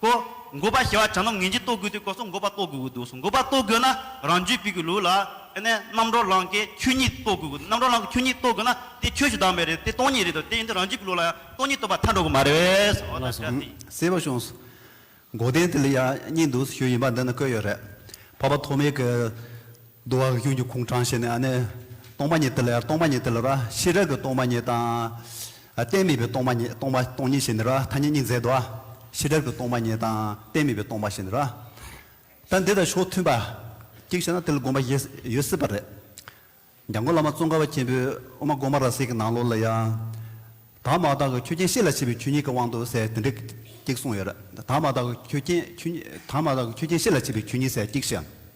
དཀོར། འགོ་པ་ཞེས་པ་བྱ་ནོམ་ངན་གྱིས་གཏོར་དགོས་དུས་དཀོར་སོགས་འགོ་པ་གཏོར་དགོས་ཀྱི་འདུག་གསུངས་འགོ་པ་གཏོར་དགོས་ན་རང་རྒྱུད་སྤེལ་དགོས་ལུགས་ལ། དེ་ནས་རྣམ་རོལ་ལང་ཀའི་ཁྱུ་གཉིས་གཏོར་དགོས་ཀྱི་འདུག་རྣམ་རོལ་ལང་ཀའི་ཁྱུ་གཉིས་གཏོར་དགོས་ན་དེ་ཁྱོད་ཞུ་དག་མེད་རེད་དེ་སྟོང་ཉིད་རེད་དོ་དེ་ཡིན་དུས་རང་རྒྱུད་སྤེལ་ལུགས་ལ་ཡང་སྟོང་ཉིད་སྟོན་པ་མཐའ་འགྲོ་གི་མ་རེད། འོ་ན་བཀྲ་ཤིས། གསལ་བོ་བྱུང། མགོ་སྟེང་དེ་ལ་ཡང་གཉིས་འདུག་ཞུ་ཡིན་པ་འདི་ན་བཀོད་ཡོད་རེད། འཕགས་པ་ཐོགས་མེད་ཀྱི། འདུ་བ་གཡོན་གྱི་ཁུང་དྲངས་བྱས་ནས་ནི། སྟོང་པ་ཉིད་དེ་ལ་ཡང་སྟོང་པ་ཉིད་དེ་ལ་ར་ཤེས་རབ་ཀྱི་སྟོང་པ་ཉིད་དང། རྟེན་མེད་པའི་སྟོང་པ་ཉིད་སྟོང་པ་སྟོང་ཉིད་བྱས་ནས་ར་ཐ་སྙད་གཉིས་མཛད་དོ། ཤེས་རབ་ཀྱི་སྟོང་པ་ཉིད་དང་རྟེན་མེད་པའི་སྟོང་པ་བྱས་ནས་ར། ད་འདི་དང་ཕྱོགས་མཐུན་པ། གཅིག་བྱས་ན་དེ་ལ་དགོངས་པ་བཞི་ཡོད་སྲིད་པ་རེད། འཇང་དགུ་བླ་མ་ཙོང་ཁ་བ་མཁན་པོས་དབུ་མ་སྒོ་མ་ར་བསྲེས་ཀྱི་ནང་ལོགས་ལ་ཡང། དག་མ་དག་གི་ཆོས་ཅན་ཤེས་ལ་བྱེད་པའི་ཆོས་ཉིད་ཀྱི་དབང་དུ་གསལ་དེ་འདྲས་གཅིག་གསུངས་ཡོད་རེད། དག་མ་དག་གི་ཆོས་ཅན་ཆོས་ཉིད་དག་མ་དག་གི་ཆོས་ཅན་ཤེས་ལ་བྱེད་པའི་ཆོས་ཉིད་གསལ་གཅིག་བྱས།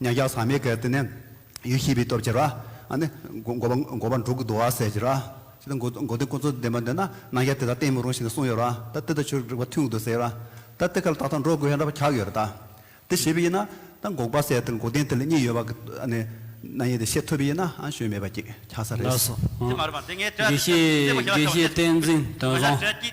མྱ་ག་ས་མའི་གར་དེ་ནས་ཡུལ་ཤེས་པའི་སྟོབས་ཀྱིས་ར་ཨ་ནི། འགོ་པ་འགོ་པ་འབྲུག་གི་རྡོ་བ་ཟེར་གྱིས་ར་ཨ། ཅི་སྟེ་འགོ་འགོ་དེ་ཀུན་རྫོབ་བདེན་པ་འདི་ན་སྣང་ཡ་དེ་དག་བསྟན་མི་རུང་ཞེས་ནས་གསུངས་ཡོད་ར་ད་དེ་དག་ཆོས་རིག་པ་ཐུན་གྱི་དུ་ཟེར་ར་ད་དེ་གར་ད་ལྟ་འགྲོ་དགོས་ཡ་འདྲ་བ་གག་ཡོད་ར་ད་དེ་ཞེས་པའི་ཡིན་ན་ད་འགོག་པ་ཟེར་དེར་འགོ་བདེན་དེ་ལ་གཉིས་ཡོད་པ་གི་ཨ་ནི། སྣང་ཡེ་དེ་ཤེས་ཐུབ་པའི་ཡིན་ན་ཨ་ཞོན་མེད་པ་གི་གག་ས་རེད། དགེ་བཤེས་བསྟན་འཛིན་དང་བཟང།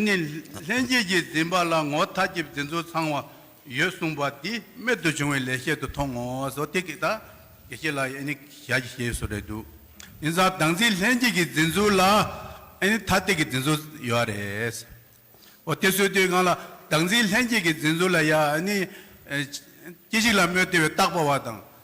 ནི་ལྷན་སྐྱེས་ཀྱི་འཛིན་པ་ལ་ངོ་མཐའ་གྱི་འཛིན་ཚུལ་ཚང་བ་ཡོད་གསུངས་པ་འདི་རྨད་དུ་བྱུང་བའི་ལེགས་བཤད་དུ་མཐོང་ངོ་སོ་ཐིག་གི་དག་གི་ཤེས་ལ་ནི་ཞལ་གྱི་ཤེས་སུ་རེད་འདུག་ཡིན་ཙང་བདག་འཛིན་ལྷན་སྐྱེས་ཀྱི་འཛིན་ཚུལ་ལ་ནི་མཐའ་གཏད་ཀྱི་འཛིན་ཚུལ་ཡོད་ར་རེད། འོ་དེ་སོས་དུས་གང་ལ་བདག་འཛིན་ལྷན་སྐྱེས་ཀྱི་འཛིན་ཚུལ་ལ་ཡང་ནི་ཅི་ཞིག་ལ་རྨོད་དེ་བས་རྟག་པ་བ་དང་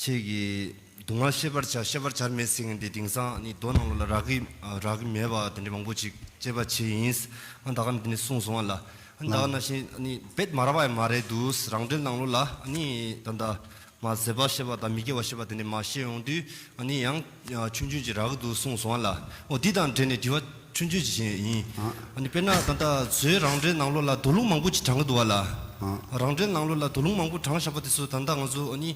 ཁྱེད་ཀྱིས་སྡུག་བསྔལ་ཤེས་པར་བྱ་ཤེས་པར་བྱར་མེད་ཟེར་ངེས་འདི་དེང་སང་ནི་རྡོ་ནང་ལོགས་ལ་རག་གི་རག་གི་མེད་པ་དེ་འདྲའི་མང་པོ་ཅིག་དཔྱད་པ་བྱས་ཡིན། ད་ག་ནི་དེ་ནས་གསུངས་སོང་བ་ལ་ད་ག་ན་བཞིན་ནི་བེད་མ་རག་པ་ཡང་མ་རེད་དུ་རང་འགྲེལ་ནང་ལོགས་ལ་ནི་ད་ད་མ་ཟེར་བ་ཤེས་པ་དང་མི་སྐྱེ་བ་ཤེས་པ་དེ་འདྲའི་མ་ཤེས་ཡོང་དུས་ནི་ཡང། ཆུང་ཆུང་གྱི་ར་གི་འདུག་གསུངས་སོང་བ་ལ། འོ་འདི་དང་འབྲེལ་ནས་དྲི་བ་ཆུང་ཆུང་ཞིག་བྱེད་ཡས་ཡིན། དཔེར་ན་ད་ལྟ་བཟོའི་རང་འདྲའི་ནང་ལོགས་ལ་དོ་ལུང་མང་པོ་ཅིག་དྲངས་གི་འདུག་བ་ལ། རང་འདྲའི་ནང་ལོགས་ལ་དོ་ལུང་མང་པོ་དྲངས་བཞག་པ་དེ་ཚོ་ད་ལྟ་ང་ཚོ་ནི།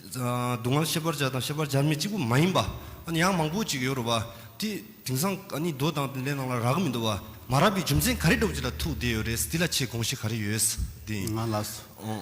སྡུག་བསྔལ་ཤེས་པར་བྱ་དང་ཤེས་པར་བྱ་མི་གཅིག་པུ་མ་ཡིན་པ། ཡང་མང་པོ་ཅིག་ཡོད་རུ་བ། དེ་དེང་སང་རྡོ་དང་ལས་ནང་ལ་ར་གི་མི་འདུག་བ། མ་ར་བའི་རྒྱུ་མཚན་ག་རེ་འགྲོ་བ་ཅིག་ལ་ཐུག་བསྡད་ཡོད་རེད་དེ་ལ་ཆེས་དགོངས་གཞི་ག་རེ་ཡོད། ང་ལ་སོ།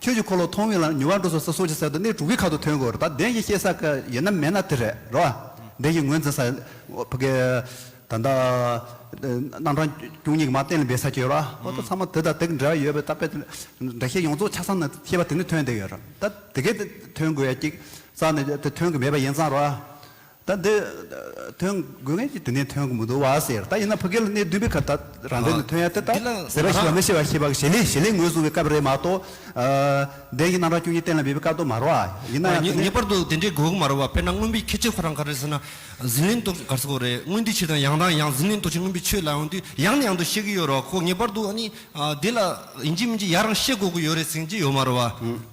ཁྱོད་ཀྱིས་འཁོར་ལོ་མཐོང་བས་ལ་ཉུལ་བ་འགྲོ་སོང་ས་སོགས་ཀྱི་གསལ་དུ་གནས་དྲུག་གི་ཁ་དོག་ཐོན་དགོས་རེད་ད་བདེན་བཞི་ཤེས་ས་ཀ་ཡེ་ན་མེད་ན་དེ་རེད་རེད་བ། བདེན་བཞི་ངོས་འཛིན་ས་ཕ་གི། ད་ལྟ། རྣམ་གྲངས་བཅུ་གཉིས་ཀྱི་མ་གཏན་ལ་འབེབས་ས་ཁྱོད་ར་ཨོ་ད་ཚང་མ་དེ་དང་དེ་གི་འབྲེལ་བ་ཡོད་པའི་ད་དཔེ་དེ་འདྲ་ཤེས་ཡོངས་རྫོགས་ཆ་ཚང་ནས་ཤེས་པ་དེ་ནི་ཐོན་བསྡད་ཡོད་རེད་ད་དེ་གས་ཐོན་དགོས་ཡ་ཀྱི་ས་ནི་དེ་ཐོན་གི་མེད་པ་ཡིན་ཙང་རེད་བ། ད་འདི་ཐོན་དགོས་མཁན་གྱི་དུས་ནས་ཐོན་གི་མི་འདུག་བ་ཟེར་ད་ཡིན་ན་ཕ་གི་ལ་གནས་བདུན་པའི་ཁར་ད་རང་འདྲེན་ནས་ཐོན་ཡ་དེ་ད་ཟེར་བ་ཞིག་ལ་མི་ཤེས་བ་ཤེས་བ་གི་ཞེ་ལེ་ཞེ་ལེ་ངོས་བཟུང་བའི་སྐབས་རེད་མ་གཏོགས་བདེན་གྱི་རྣམ་གྲངས་བཅུ་གཉིས་གཏན་ལ་འབེབས་པའི་སྐབས་དུ་མ་རོ་ཨ་ཡིན་ན་ཡང་དེ་ནས། ངེས་པར་དུ་དེ་འདྲའི་དགོས་གི་མ་རོ་བ་དཔེར་ན་རྔོན་པའི་ཁྱད་ཆོས་ཁོ་རང་ག་རེ་ཟེར་ན་ཟིང་ལིང་ཏོག་གི་གར་སོགས་རེད་རྔོན་དུས་ཕྱིར་དང་ཡང་དང་ཡང་ཟིང་ལིང་ཏོག་ཕྱིར་རྔོན་པའི་ཆོས་ལ་ཡོང་དུས་ཡང་ནས་ཡང་དུ་ཤེས་གི་ཡོད་རོགས་ཁོ་ངེས་པར་དུ་ཨ་ནི་དེ་ལ་ཡིན་གྱི་མིན་གྱི་ཡ་རང་ཤེས་དགོས་གི་ཡོད་རེད་ཟིང་གྱི་ཡོད་མ་རོ་བ།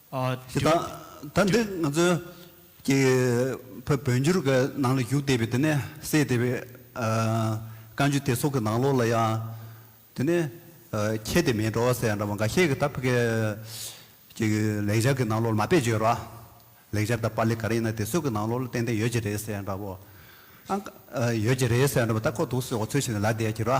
ཞེས་དང། ད་འདི་ང་ཚོའི་ཀྱི་བོད་བོད་འགྱུར་གྱི་ནང་ལ་བཞུགས་བསྡད་པའི་དེ་ནས་གསལ་བསྡད་པའི་བཀའ་འགྱུར་དེ་ཚོ་གི་ནང་ལོགས་ལ་ཡང་དེ་ནས་ཁྱད་དེ་མེད་འགྲོ་བ་སེ་འདྲ་བ་འགའ་ཤས་ཀྱི་ད་ཕི་གའི་ཀྱི་ལེགས་སྦྱར་གྱི་ནང་ལོགས་ལ་མ་དཔེ་བརྗོད་ར། ལེགས་སྦྱར་དང་པཱ་ལི་ག་རེ་ཡིན་ན་དེ་ཚོ་གི་ནང་ལོགས་ལ་ཏན་ཏན་ཡོད་ཀྱི་རེད་སེ་འདྲ་བོ། ཡོད་ཀྱི་རེད་སེ་འདྲ་བོ་ད་ཁོ་ཐུགས་སུ་ཡོང་བ་ཚུལ་བཞིན་ལ་བསྡད་ཀྱི་ར།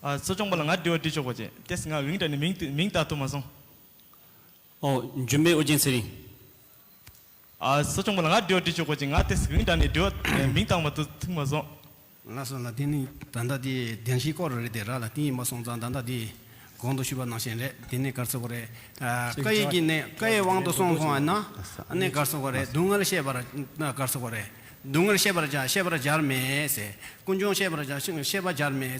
གསོ་སྦྱོང་པ་ལ་ང་འདྲི་བ་འདྲི་ཆོག་པ་བྱས་དེས་ང་བིང་དྲན་ནས་མིང་བཏགས་ཐུབ་མ་སོང། ཨོ། འཇུན་པའི་ཨོ་རྒྱན་ཚེ་རིང། གསོ་སྦྱོང་པ་ལ་ང་འདྲི་བ་འདྲི་ཆོག་པ་བྱས་ང་དེས་བིང་དྲན་ནས་འདྲི་བ་མིང་བཏགས་མ་ཐུབ་མ་སོང། ལ་སོགས་ལ་དེ་ནི་ད་ལྟ་དེ་བདེན་བཞིའི་སྐོར་རེད་དེ་ར་ལ་དེ་ཡིན་མ་སོང་ཙང་ད་ལྟ་དེ་གོང་དུ་ཞུས་པ་ནང་བཞིན་རེད་དེ་གནད་འགག་ཚོད་པོ་རེད། བཀའ་ཡིག་གི་གནད་བཀའ་ཡི་དབང་དུ་སོང་སོང་བས་ན་གནད་འགག་ཚོད་པོ་རེད་སྡུག་བསྔལ་བཤད་པར་གནད་འགག་ཚོད་པོ་རེད། སྡུག་བསྔལ་ཤེས་པར་བྱ་ཤེས་པར་བྱར་མེད། ཀུན་འབྱུང་ཤེས་པར་བྱ་ཤེས་པར་བྱར་མེད།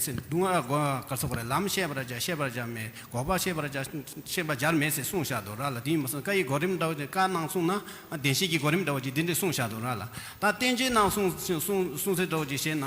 ལམ་ཤེས་པར་བྱ་ཤེས་པར་བྱར་མེད། འགོག་པ་ཤེས་པར་བྱ་ཤེས་པར་བྱར་མེད་ཅེས་གསུངས་བཞག་ཏུ་ར་ལ་དེའི་མ་གསུངས་བཀའ་ཡི་གོ་རིམ་འདྲ་བ་ཅན་བཀའ་གནང་གསུངས་ན་བདེན་བཞིའི་གི་གོ་རིམ་འདྲ་བ་ཅན་འདི་འདྲ་གསུངས་བཞག་ཏུ་ར་ལ། ད་བསྟན་བྱའི་ནང་གསུངས་གསུངས་སའི་འདྲ་བ་ཅན་བཤད་ན།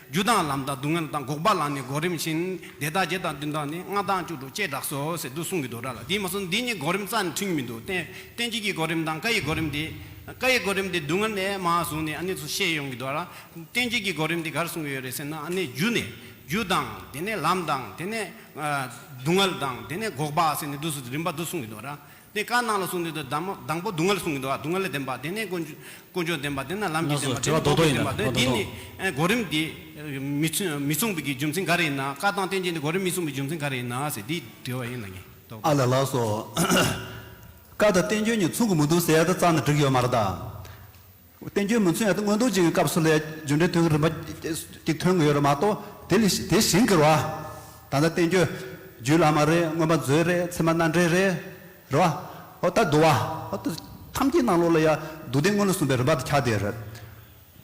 རྒྱུ་དང་ལམ་དང་སྡུག་བསྔལ་དང་འགོག་པ་ལ་ནི་འགོག་རིམ་བཞིན་དེ་དག་བརྒྱད་དང་བདུན་དང་ནི་ལྔ་དང་བཅུ་དྲུག་ཅེས་གྲགས་སོ་ཟེར་དུ་གསུངས་ཀྱི་འདུག་གྲགས་ལ་དེས་མ་གསུངས་འདི་གཉིས་འགོག་རིམ་རྩ་ནས་མཐུན་གྱི་མི་འདུག་གཏན་ཚིགས་ཀྱི་འགོག་རིམ་དང་བཀའ་ཡི་འགོག་རིམ་དེ། བཀའ་ཡི་འགོག་རིམ་དེ་སྡུག་བསྔལ་ནས་མ་བཟུང་ནས་ནི་སུ་ཤེས་ཡོང་གི་འདུག་གྲགས་གཏན་ཚིགས་ཀྱི་འགོག་རིམ་དེ་གར་གསུངས་ཀྱི་ཡོད་རེད་ཟེར་ན་ནི་རྒྱུ་ནས་རྒྱུ་དང་དེ་ནས་ལམ་དང་དེ་ནས་སྡུག་བསྔལ་དང་དེ་ནས་འགོག་པ་ཟེར་ནས་དུ་སུ་རིམ་པ་དུ་གསུངས་ཀྱི་འདུག་གྲགས། དེ་བཀའ་གནང་ལ་གསུངས་དེ་དང་དང་པོ་སྡུག་བསྔལ་གསུངས་གི་འདུག་ཨ་སྡུག་བསྔལ་ལས་བདེན་པ་དེ་ནས་དཀོན་མཆོག་བདེན་པ་དེ་ནས་ལམ་གྱི་བདེན་པ་དེ་ནས་འགོག་པའི་བདེན་པ་དེ་འདི་ནི་གོ་རིམ་འདི་མི་མཚུངས་པའི་རྒྱུ་མཚན་ག་རེ་ཡིན་ན་བཀའ་དང་བསྟན་བཅོས་འདི་གོ་རིམ་མི་མཚུངས་པའི་རྒྱུ་མཚན་ག་རེ་ཡིན་ན་ཟེར་འདི་དྲི་བ་ཡིན་ལ་ངེས་རྟོགས་པ། ཨ་ལས་ལགས་སོ། བཀའ་དང་བསྟན་བཅོས་གཉིས་མཚུངས་གི་མི་འདུག་ཟེར་ཡ་ད་རྩ་ནས་འགྲིག་ཡོད་མ་རེད་ད། བསྟན་བཅོས་མུན་ཚོད་ཡང་སྔོན་རྡོ་རྗེ་གི་སྐབས་སུ་ལས་རྒྱུ་འབྲས་ཐོན་གྱི་རིམ་པ་གཅིག་ཐོན་གྱི་ཡོད་རེད་མ་གཏོགས་དེ་ལས་དེ་བཞིན་གྱི་རེད་བ། ད་ལྟ་བསྟན་བཅོས་རྒྱུད་བླ་མ་རེད་སྔོན་པ་མཛོད་རེད་ཚེ་མ་སྣ་འདྲེན་རེད། རེད་བ། ཨོ་ད་འདུག་བ། ཨོ་ད། ཐམས་ཅད་སྣང་ལོག་ལ་ཡང་སྡུག་བདེན་དངོས་ལ་གསུངས་པའི་རིམ་པ་དེ་ཁྱག་དེ་རེད།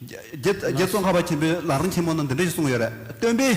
རྗེ་བཙོན་ཁ་བ་ཆེན་པོས་ལག་རིང་ཆེན་མོ་ནང་འདི་འདྲ་ཞིག་གསུངས་ཡོད་རེད་སྟོན་པས།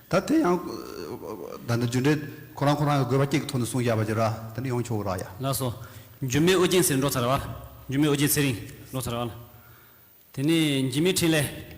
ད་དེ་ཡང། ད་ནི་རྒྱུ་འབྲས་ཁོ་རང་ཁོ་རང་གི་དགོས་པ་སྐྱེས་ཀྱི་ཐོག་ནས་གསུངས་བཞག་པ་ཅི་ར་དེ་ནི་ཡོང་ཆོག་ར་ཡ། ལགས་སོ། འཇུ་མི་ཨོ་རྒྱན་ཟེར་འགྲོ་ཚར་བ། འཇུ་མི་ཨོ་རྒྱན་ཚེ་རིང་འགྲོ་ཚར་བ་ལ། དེ་ནི་འཇིགས་མེད་འཕྲིན་ལས།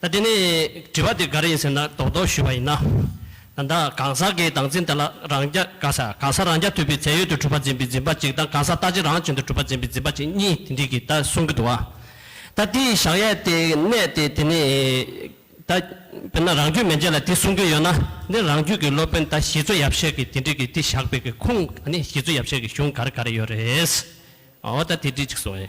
ད་དེ་ནས་དྲི་བ་དེ་ག་རེ་ཡིན་ཟེར་ན་རྡོག་རྡོག་ཞུས་པ་ཡིན་ན། ད་ལྟ་གང་ཟག་གི་སྡང་འཛིན་དེ་ལ་རང་རྐྱ་གང་ཟག་གང་ཟག་རང་རྐྱ་ཐུབ་པའི་ཚད་ཡོད་དུ་གྲུབ་པ་འཛིན་པའི་འཛིན་པ་གཅིག་དང་གང་ཟག་ལྟ་ཅི་རང་བྱུང་དུ་གྲུབ་པ་འཛིན་པའི་འཛིན་པ་གཅིག་གཉིས་དེ་འདྲིས་ཀྱིས་ད་གསུང་གི་འདུག་ཨ། ད་དེའི་བཞག་ཡས་དེ་གནས་དེ་དེ་ནས་ད་དཔེར་ན་རང་རྒྱུད་མན་ཆད་ལ་དེ་གསུང་གི་ཡོད་ན་འདི་རང་རྒྱུད་ཀྱི་སློབ་དཔོན་ད་ཞི་འཚོ་ཡབ་ཤད་ཀྱིས་དེ་འདྲིས་ཀྱིས་དེ་བཞག་པའི་ཀྱི་ཁུངས་ཨ་ནི་ཞི་འཚོ་ཡབ་ཤད་ཀྱི་གཞུང་ག་རེ་ག་རེ་ཡོད་རེད། ཨོ་ད་དེ་འདྲིས་ཅིག་གསུང་ཨེ།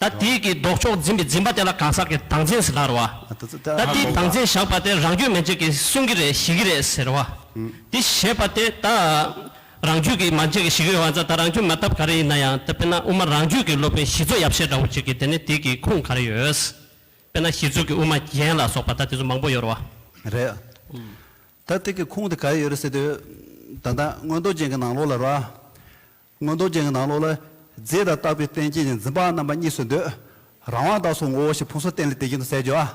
ད་དེའི་གི་ལྡོག་ཕྱོགས་འཛིན་པའི་འཛིན་པ་དེ་ལ་གང་ཟག་གི་དང་འཛིན་ཟེར་ད་རེད་བ། ད་དེའི་དང་འཛིན་བཞག་པ་དེ་རང་རྒྱུད་མན་ཆད་ཀྱི་གསུང་གི་རེད་ཞི་གི་རེད་ཟེར་བ། དེ་ཞེས་པ་དེ་ད་རང་རྒྱུད་གི་མན་ཆད་ཀྱི་ཞི་གི་རེད་བ་འཛ་ད་རང་རྒྱུད་མ་ཐབས་ག་རེ་ཡིན་ན་ཡང་དཔེར་ན་དབུ་མ་རང་རྒྱུད་ཀྱི་སློབ་དཔོན་ཞི་འཚོ་ཡབ་ཤད་འདྲ་བོ་ཅིག་གི་དེ་ནི་དེའི་གི་ཁུངས་ག་རེ་ཡོད། དཔེར་ན་ཞི་འཚོ་གི་དབུ་མ་རྒྱན་ལ་སོགས་པ་ད་དེ་ཚོ་མང་པོ་ཡོད་རེད་བ། རེད། ད་དེ་གི་ཁུངས་དེ་ག་རེ་ཡོད་རེད་ཟེར་དུས། ད་ད་སྔོན་རྡོ་རྗེ་གི་ནང་ལོགས་ལ་རེད་བ། མངོན་རྟོགས་ཅན་གྱི་ནང་ལོགས་ལ། རྫས་དང་བཏགས་པའི་རྟེན་བཅས་ནི་འཛིན་པའང་རྣམ་པ་གཉིས་སུ་འདོད། རང་དབང་བདག་སོགས་ངོ་བོ་ཞེས་ཕུང་སོགས་རྟེན་ལས་འདས་ཀྱི་དོན་གསལ་བརྗོད།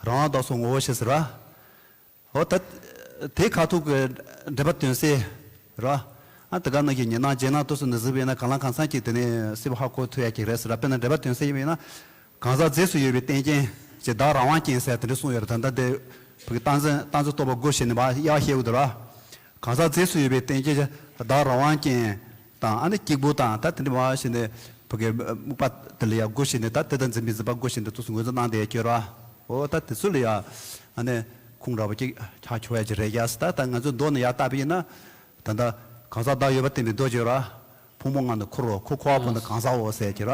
རང་དབང་བདག་སོགས་ངོ་བོ་ཞེས་ཟེར་བ། འོ་ད། དེའི་ཁ་ཐུག་གི། འགྲེལ་པ་དོན་གསལ། ར། ཨ། དེ་ག་ནང་གི་ཉི་སྣང་རྗེས་གནང་དུས་སུ་ནི་གཟིགས་པས་ན་གང་ལ་གང་འཚམ་གྱིས་དེ་ནི་སྲིད་པ་ཧ་གོ་ཐུབ་ཡ་གྱི་རེད་ཟེར། དཔེར་ན་འགྲེལ་པ་དོན་གསལ་ཡིན་པས་ན། གང་ཟག་རྫས་སུ་ཡོད་པའི་རྟེན་རྐྱེན། ཅེས་བདག་རང་དབང་རྐྱེན་སེལ་དེ་འདྲ་གསུངས་ཡོད་པ་ད་ལྟ་འདིར་བོད་ཀྱི་ཏང་ཙན་ཏང་ཙེ་གཏོགས་པ་སྒོ་ཕྱེ་ནས་མ་གཡག་བཤད་དགོས་འདུག་ལ། གང་ཟག་རྫས་སུ་ཡོད་པའི་རྟེན་རྐྱེན་ཅེས་བདག་རང་དབང་རྐྱེན་དང་ཨ་ནི་སྐྱིགས་བུ་དང་ད་དེ་འདྲ་མ་བཤད་ནས་བོད་ཀྱི་སྨུག་པ་དེ་ལ་ཡང་སྒོ་ཕྱེ་ནས་ད་དེ་དང་འཛིན་པའི་འཛིན་པ་སྒོ་ཕྱེ་ནས་ཐུགས་སུ་ངོས་འཛིན་གནང་བསྡད་ཀྱི་ར་ཨོ་ད་དེ་ཚོ་ལ་ཡང་ཨ་ནི་ཁུངས་ར་བ་ཅིག་ཆགས་ཆོག་ཡ་ཅིག་རེད་ཀྱ་སི་ད་ད་ང་ཚོའི་མདོག་ནི་ཡ་ལྟ་བུ་ཡིན་ན། ད་ལྟ་གང་ཟག་བདག་ཡོད་པ་བསྟན་པའི་མདོ་ཅིག་ར། ཕུང་པོ་ལྔ་ནི་འཁོར་བའོ་འཁོར་འཁོར་བ་པོ་ནི་གང་ཟག་འོ་ཟེར་ཀྱི་ར།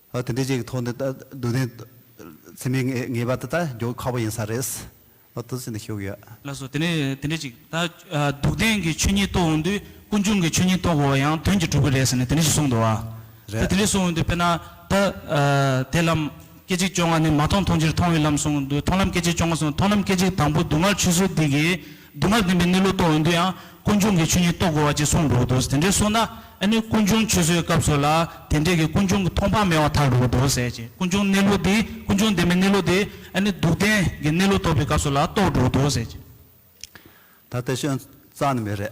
ཨ་དེ་འདྲའི་ཅིག་གི་ཐོག་ནས་སྡུག་བདེན་ཚིམ་པའི་ངེས་པ་དེ་དག་འཇོག་ཁག་པོ་ཡིན་ས་རེད། ཨ་ཏི་ཅི་འདི་ཤོད་གི་ཡོད། ལགས་སོ་དེ་ནས་དེ་འདྲའི་ཅིག་ད་སྡུག་བདེན་གྱི་ཆོས་ཉིད་རྟོགས་འོང་དུས་ཀུན་འབྱུང་གི་ཆོས་ཉིད་རྟོགས་དགོས་པ་ཡང་དོན་གྱིས་གྲུབ་གི་རེད་ཟེར་ནས་དེ་འདྲའི་ཅིག་གསུངས་འདུག་ཨ། ད་རེད། དེ་འདྲའི་གསུངས་འོང་དུས་དཔེར་ན་ད་དེ་ལམ་སྐད་ཅིག་བཅོ་ལྔ་ནི་མ་མཐོང་མཐོང་ཕྱིར་མཐོང་བའི་ལམ་གསུངས་འོང་དུས་མཐོང་ལམ་སྐད་ཅིག་བཅོ་ལྔ་གསུངས་མཐོང་ལམ་སྐད་ཅིག་དང་པོ་སྡུག་བསྔལ་ཆོས་ཚུལ་འདི་གའི་སྒྱུ་མར་ལྡན་པའི་གནས་ལུགས་རྟོགས་འོས་འདུག་ཡང་ཀུན་འབྱུང་གི་ཆོས་ཉིད་རྟོགས་དགོས་བ་ཅིག་གསུངས་འདུག་འདུག་དེ་འདྲའི་སོང་ན་ཨ་ནི་ཀུན་འབྱུང་ཆུད་ཟོས་སྐབས་སུ་ལ་དེ་འདྲས་ཀྱི་ཀུན་འབྱུང་གི་མཐོང་སྤང་མེད་བ་ཐག་རིང་འདུག་ཟེར་ཅིང་ཀུན་འབྱུང་གནས་ལུགས་འདི་ཀུན་འབྱུང་ལྡན་པའི་གནས་ལུགས་འདི་ཨ་ནི་སྡུག་བདེན་གྱི་གནས་ལུགས་རྟོགས་པའི་སྐབས་སུ་ལ་རྟོགས་འདུག་འདུག་ཟེར་ཅིང། ད་ལྟ་ཤོན་རྩ་ནི་མེད་རེད།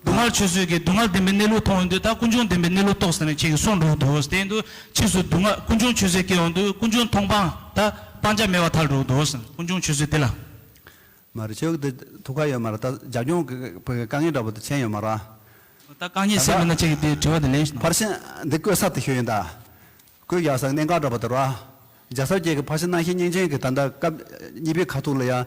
སྡུག་བསྔལ་ཆོས་བཟོད་ཀྱི་སྡུག་བསྔལ་བདེན་པའི་གནས་ལུགས་མཐོང་བའི་འདུག་ད་ཀུན་འབྱུང་བདེན་པའི་གནས་ལུགས་རྟོགས་ཟིན་ནས་ཁྱེད་ཀྱི་གསུང་འགྲུབ་འདུག་དེ་འདུག་ཕྱིས་སུ་སྡུག་བསྔལ་ཀུན་འབྱུང་ཆོས་བཟོད་སྐྱེ་བ་འདུག་ཀུན་འབྱུང་མཐོང་སྤང་ད་སྤང་བྱ་མེད་བ་ཐག་འགྲུབ་འདུག་ཀུན་འབྱུང་ཆོས་བཟོད་དེ་ལ། མ་རེད་ཁྱོད་ཀྱི་དེ་ཐུགས་ཁག་ཡོད་མ་རེད་ད་རྒྱ་སྐྱོང་གི་དཀའ་ངལ་འདྲ་པོ་དེ་མཁྱེན་ཡོད་མ་རེད། ད་དཀའ་ངལ་སེལ་མེད་ན་ཁྱེད་ཀྱི་དེ་དྲི་བ་དེ་ལེན་ཞིག་གནང། ཕར་ཕྱིན་འདི་བཀོད་ས་དེ་ཤོད་ཡིན་ད། བཀོད་རྒྱག་ས་གནད་འགག་འདྲ་པོ་དེ་རེད། རྒྱ་བཟའ་བརྒྱད་ཀྱི་ཕར་ཕྱིན་སྣང་ཤེས་བསྙེན་ཅན་གྱི་ད་ལྟ་སྐབས་གཉིས་པའི་ཁ་ཐུག་ལ་ཡང།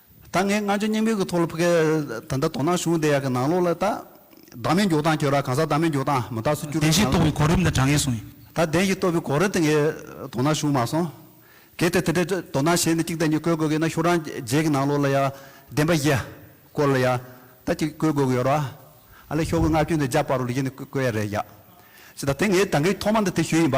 ད་ངས་སྔ་འགྱོ་སྙིང་དཔོན་གྱི་ཐོག་ལ་ཕུ་གལ། ད་ལྟ་དོ་སྣང་གཞུང་བདེ་ཡག་གི་ནང་ལོགས་ལ་ད། བདག་མེད་མགྱོགས་སྟངས་ཁྱོད་རང་གང་ཟག་བདག་མེད་མགྱོགས་སྟངས་མི་རྟག་སུ་སྐྱུར་བའི་བདེན་བཞིའི་ངང་ལ། རྟོགས་པའི་གོ་རིམ་དང་དྲང་ངེས་གསུངས་ཡོད། ད་བདེན་བཞིའི་རྟོགས་པའི་གོ་རིམ་དེ་ངས་དོ་སྣང་གཞུང་མ་སོང། གལ་ཏེ་དེ་འདྲའི་དོ་སྣང་བྱས་ནས་གཅིག་དང་གཉིས་བཀོད་དགོས་ཀྱི་ན་ཁྱོད་རང་རྗེས་ཀྱི་ནང་ལོགས་ལ་ཡང། བདེན་པ་བཞི། སྐོར་ལ་ཡང། ད་གཅིག་བཀོད་དགོས་ཀྱི་ཡོད་རོ། ཨ་ལས་ཤོག་གི་ངག་སྐྱོན་དེ་རྒྱ་དཔར་རུ་ལུས་ཀྱི་ནི་བཀོད་ཡ་རེད་ཡ། ཅི་ད་དེ་ངས་ད་ངས་ཐོག་མ་ནས་དེ་ཞུས་ཡིན་པ།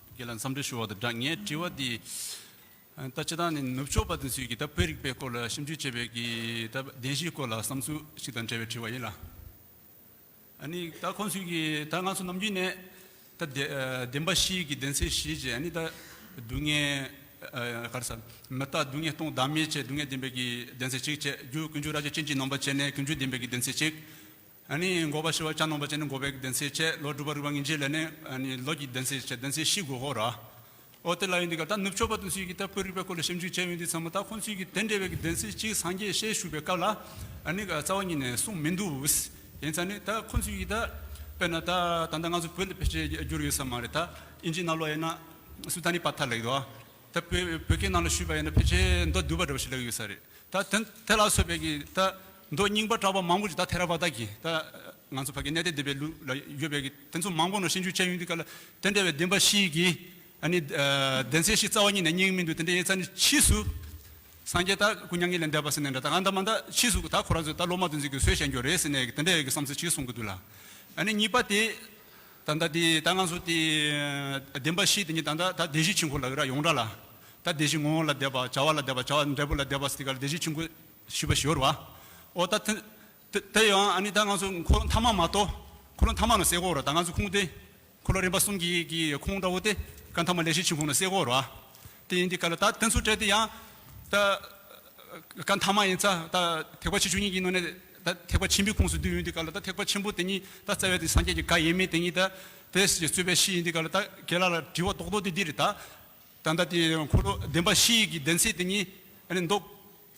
ཁྱེད་ལ་འཚམས་འདྲི་ཞུ་བ་དང་སྦྲགས་ངས་དྲི་བ་འདི། ད་ཁྱེད་རང་ནི་ནུབ་ཕྱོགས་པ་དེ་ཚོས་ཀྱི་ད་བོད་རིག་པའི་སྐོར་ལ་ཞིབ་འཇུག་བྱས་པའི་ཀྱི་ད་བདེན་བཞིའི་སྐོར་ལ་བསམ་ཚུལ་ཞིག་དང་འབྲེལ་བའི་དྲི་བ་ཡིན་ལ། ནི་ད་ཁོང་ཚོས་ཀྱི་ད་ང་ཚོ་ནམ་རྒྱུན་ནས་ད་བདེན་པ་བཞི་ཀྱི་བདེན་ཚད་བཞི་ཅེས་ནི་ད་སྡུག་བསྔལ། ག་རེ་ས། མི་རྟག་སྡུག་བསྔལ་སྟོང་བདག་མེད་ཅེས་སྡུག་བསྔལ་བདེན་པའི་ཀྱི་བདེན་ཚད་གཅིག་ཅེས་རྒྱུ་ཀུན་རྒྱུ་ར་རྒྱུ་རྐྱེན་གྱིས་ནོངས་པ་བྱས་ནས་ཀུན་རྒྱུ་བདེན་པའི་ཀྱི་བདེན་ཚད་གཅིག། འགོ་བ་ཞི་བ་གྱ་ནོམ་པ་བཅས་ནི་འགོ་བའི་གདན་སའི་ཆད་ལོ་སྒྲུབ་པ་རུས་པ་ངེས་འབྱེད་ལས་ནི་ལོ་གྱི་གདན་སའི་ཆད་གདན་སའི་གཞི་དགོས་ཤོག་ར་ཨོ་དེ་ལ་ཡིན་འདི་ག་ད་ནུབ་ཕྱོགས་པ་དུ་སུས་ཀྱིས་ད་བོད་རིག་པའི་སྐོར་ལ་ཞིབ་འཇུག་བྱས་ཡོད་འདི་ཚང་མ་ད་ཁོང་ཚོས་ཀྱིས་དེ་འདྲ་བའི་གདན་སའི་གཅིག་སངས་རྒྱས་ཞེས་ཞུ་བའི་སྐབས་ལ་ནི་རྩ་བ་ཉིད་ནས་གསུངས་མི་འདུག་ཡིན་ཙང་ནི་ད་ཁོང་ཚོས་ཀྱིས་ད་དཔེར་ན་ད་ད་ལྟ་ང་ཚོ་བོད་ལ་ཕལ་ཆེར་བསྒྱུར་ཡོད་ས་མ་རེད་ད་ཨིན་ཇི་ནཱ་ལོ་ཡེ་ན་སུ་ད་ནི་པ་ཐ་ལེགས་དོ་ད་བོད་བོད་སྐད་ནང་ལ་ཞུས་པ་ཡིན་ན་ཕལ་ཆེར་མདོ་བསྡུས་པ་འདྲ་བོ་ཞིག་ལེགས་ཡོད་ས་རེད། ད་དེ་དེ་ལ་སོགས་པའི་གི་ད་མདོ་རྙིང་པ་གྲགས་པ་མང་པོ་ཞིག་ད་ཐེ་ར་བ་ད་གི་ད་ང་ཚོ་ཕ་གི་གནས་སྟེ་འདི་པའི་ལུགས་ལ་ཡོད་པའི་གི་དེ་ཚོ་མང་པོ་ནོ་ཤེས་འཇུག་ཅན་ཡོད་འདུག་ག་ལ་དེ་འདྲ་བའི་བདེན་པ་ཞིག་གི་ཨ་ནི་བདེན་ཚད་ཞིག་རྩ་བ་ཉིད་ནས་རྙེད་ཀྱི་མི་འདུག་དེ་འདྲའི་ཡེ་ཚ་ནི་ཕྱིས་སུ་སངས་རྒྱས་ད་ཀུ་མྱ་ངན་ལས་འདས་པ་ཟེར་ནས་འདྲ་ད་ང་ད་མ་ད་ཕྱིས་སུ་ད་ཁོ་རང་ཚོས་ད་སློབ་མ་དུ་འཛིན་དགོས་སོས་བཤད་འགྱོ་རེད་ཟེར་ནས་གི་དེ་འདྲའི་གི་བསམ་ཚུལ་ཞིག་གསུང་གི་འདུག་ལ་ཨ་ནི་གཉིས་པ་དེ། ད་ལྟ་དེ་ད་ང་ཚོ་དེ་བདེན་པ་བཞི་དེ་ཉིད་ད་ལྟ་ད་བདེན་བཞི་ཆེན་ཁོ་ལ་ཡོད་ར་ཡོངས་གྲགས་ལ། ད་བདེན་བཞི་ངོ་བོ་ལ་བདེ་བ་བྱ་བ་ལ་བདེ་བ་བྱ་བ་འབྲས་བུ་ལ་བདེ་བ་སྟེ་ག་ལ་བདེན་བཞི་ཆེན་ཁོ་བཞི་པ་ཞོར་བ། འོ་ད་དེ་ཡང་ཨ་ནི་ད་ང་ཚོ་འཁོར་ལོ་མཐའ་མ་མ་གཏོགས་འཁོར་ལོ་མཐའ་མ་ན་བསྲེ་གོ་ར་ད་ང་ཚོ་ཁུངས་དེ་འཁོར་ལོ་རིམ་པ་གསུམ་གྱི་གི་ཁུངས་འདྲ་བོ་དེ་ཀ་མཐའ་མ་ལས་བཞི་ཆེན་ཁོ་ན་བསྲེ་གོ་ར། དེ་ཡིན་དེ་ག་ལ་ད་བསྟན་ཚུལ་བཀྲལ་དེ་ཡང། ད་ག་མཐའ་མ་ཡིན་ཚ་ད་ཐེག་པ་ཆེ་ཆུང་གཉིས་ཀྱི་ནང་ནས་ད་ཐེག་པ་ཆེན་པོའི་ཁོངས་སུ་འདུས་ཡོད་དེ་ག་ལ་ད་ཐེག་པ་ཆེན་པོ་དེ་ཉིད་ད་རྩ་བའི་དེ་སངས་རྒྱས་ཀྱི་བཀའ་ཡིན་མིན་དེ་ཉིད་ད་དེ་རྩོད་པའི་གཞི་ཡིན་དེ་ག་ལ་ད་ག་ལ་ལ་དྲི་བ་རྡོག་རྡོག་དེ་འདིར་ད། ད་ལྟ་དེ་འཁོར་ལོ་བདེན་པ་བཞི་ཡི་གི་བདེན་ཚིག་དེ་ཉིད་ཨ་ནི་མདོ་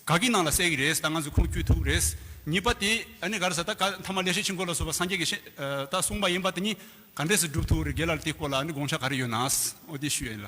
ག་གི་ནང་ལ་གསལ་གི་རེད་ད་ང་ཚོས་ཁུངས་བསྐྱུལ་ཐུབ་རེད། གཉིས་པ་དེ་ཨ་ནི་ག་ལ་ས་ད་ག་མཐའ་མ་ལས་ཤེར་ཕྱིན་སྐོར་ལ་སོགས་པ་སངས་རྒྱས་ཀྱི་ཤེས་ད་གསུངས་པ་ཡིན་པ་དེ་ཉིད་ག་འདྲས་སུ་སྒྲུབ་ཐུབ་རེད་ག་ལ་ལ་དེ་སྐོར་ལ་ཨ་ནི་དགོངས་འཆར་ག་རེ་ཡོད་ནའང་འོ་དེ་ཞུས་ཡིན་ལ།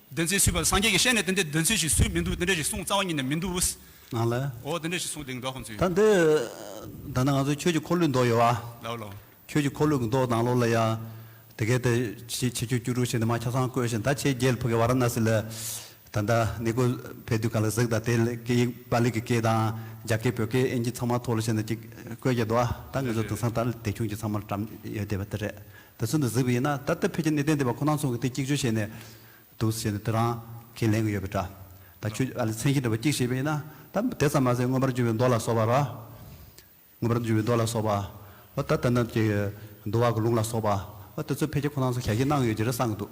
དེ་ཚེ་སུས་བར་སངས་རྒྱས་ཀྱིས་ཤེས་ནས་དེ་འདྲའི་དོན་ཚུལ་ཞིག་སུས་མི་འདུག་དེ་འདྲ་ཞིག་གསུངས་རྩ་བ་ཉིད་ནས་མི་འདུག་ཨོ། ང་ལ། འོ་དེ་འདྲ་ཞིག་གསུངས་དེ་འགའ་ཁོང་ཚོས། ད་འདི། ད་ནི་ང་ཚོ་ཁྱོད་ཀྱི་འཁོར་ལོའི་མདོག་ཡོད་བ། ལའོ་ལའོ། ཁྱོད་ཀྱི་འཁོར་ལོའི་མདོག་དང་ལོ་ལ་ཡ། དེ་གས་ཏེ། ཕྱི་ཕྱི་ཁྱོད་སྐྱུ་རུ་ཞིག་ནི་མ་ཁྱ་སང་བསྐོས་ཤིང་ད་ཁྱེད་རྒྱལ་ཕུག་གི་བ་ར་ན་སི་ལ། ད་ད་ནི་ཀོ་བས་དུས་ག་ལ་གཟིགས་ད་དེ་ལ་སྐད་ཡིག་པ་ལི་གི་སྐད་དང་རྒྱ་སྐད་བོད་སྐད་ཨིན་གྱི་ཚང་མ་ཐོག་ལ་ཤི་ན་ཅིག་བསྐོས་ཀྱི་འདུག་ཨ་ད་ངོས་ཚོ་དེང་སང་ད་ལ་དེ་ཁྱུང་གྱི་ཚང་མར་བཀྲམ་ཡོད་བསྡད་པ་དེ་རེད་དེ་ཚོ་འདི་གཟིགས་པ་ཡིན་ན་ད་ལྟ་བོད་ཀྱི་གནས་བརྟན་སྡེ་བ་ཁོ་ནང་ཚོ་གི་དེ་གཅིག་གཅོད་བྱས་ནས་འདུག་ཟེར་ནས་འདི་རང་གིས་ལན་གི་ཡོད་པའི་འདྲ། ད་ཁྱོད་ཀྱི་ཨ་ལས་མཚན་གྱི་འདྲ་བ་གཅིག་བྱས་པ་ཡིན་ན་ད་དེ་ཙམ་མ་ཟད་མངོན་པར་འགྱུར་བའི་མདོ་ལ་སོགས་པ་ར། མངོན་པར་འགྱུར་བའི་མདོ་ལ་སོགས་པ། ཨོ་ད་ད་ནམ་གྱི་འདུལ་བ་གི་ལུང་ལ་སོགས་པ། ཨོ་དེ་ཚོ་ཕལ་ཆེར་ཁོ་ནང་ཚོ་ག་གེ་གནང་གི་ཡོད་ཀྱི་རེད་བསམ་གི་འདུག།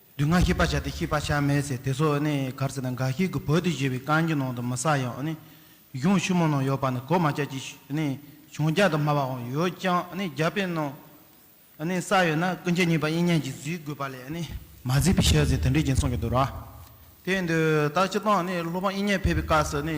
སྡུག་བསྔལ་ཤེས་པར་བྱ་སྟེ་ཤེས་པར་བྱར་མེད་ཟེར་དེ་ཚོ་ནི་གར་ཟེར་ན་འགའ་ཞིག་གིས་བོད་དུ་བཞེས་པའི་གངས་ཀྱི་ནང་དུ་མི་ཟ་ཡང་ནི་གཞུང་ཆུ་མོ་ནང་ཡོད་པ་ནི་གོ་མ་ཆག་ཅིག་ནི་བྱུང་རྒྱ་དུ་སྨྲ་བའང་ཡོད་ཀྱང་ནི་རྒྱ་དཔེ་ནང་ནི་ས་ཡོད་ན་ཀུན་མཁྱེན་ཉིད་པ་དབྱིག་གཉེན་གྱིས་གཟིགས་དགོས་པ་ལས་ནི་མ་གཟིགས་པའི་ཕྱིར་ཟེར་དེ་འདྲའི་རྒྱུ་མཚན་གྱིས་འདུལ་བ་དེ་འདི་ལྟར་སྤྱི་དང་ནི་སློབ་དཔོན་དབྱིག་གཉེན་ཕེབས་པའི་སྐབས་སུ་ནི།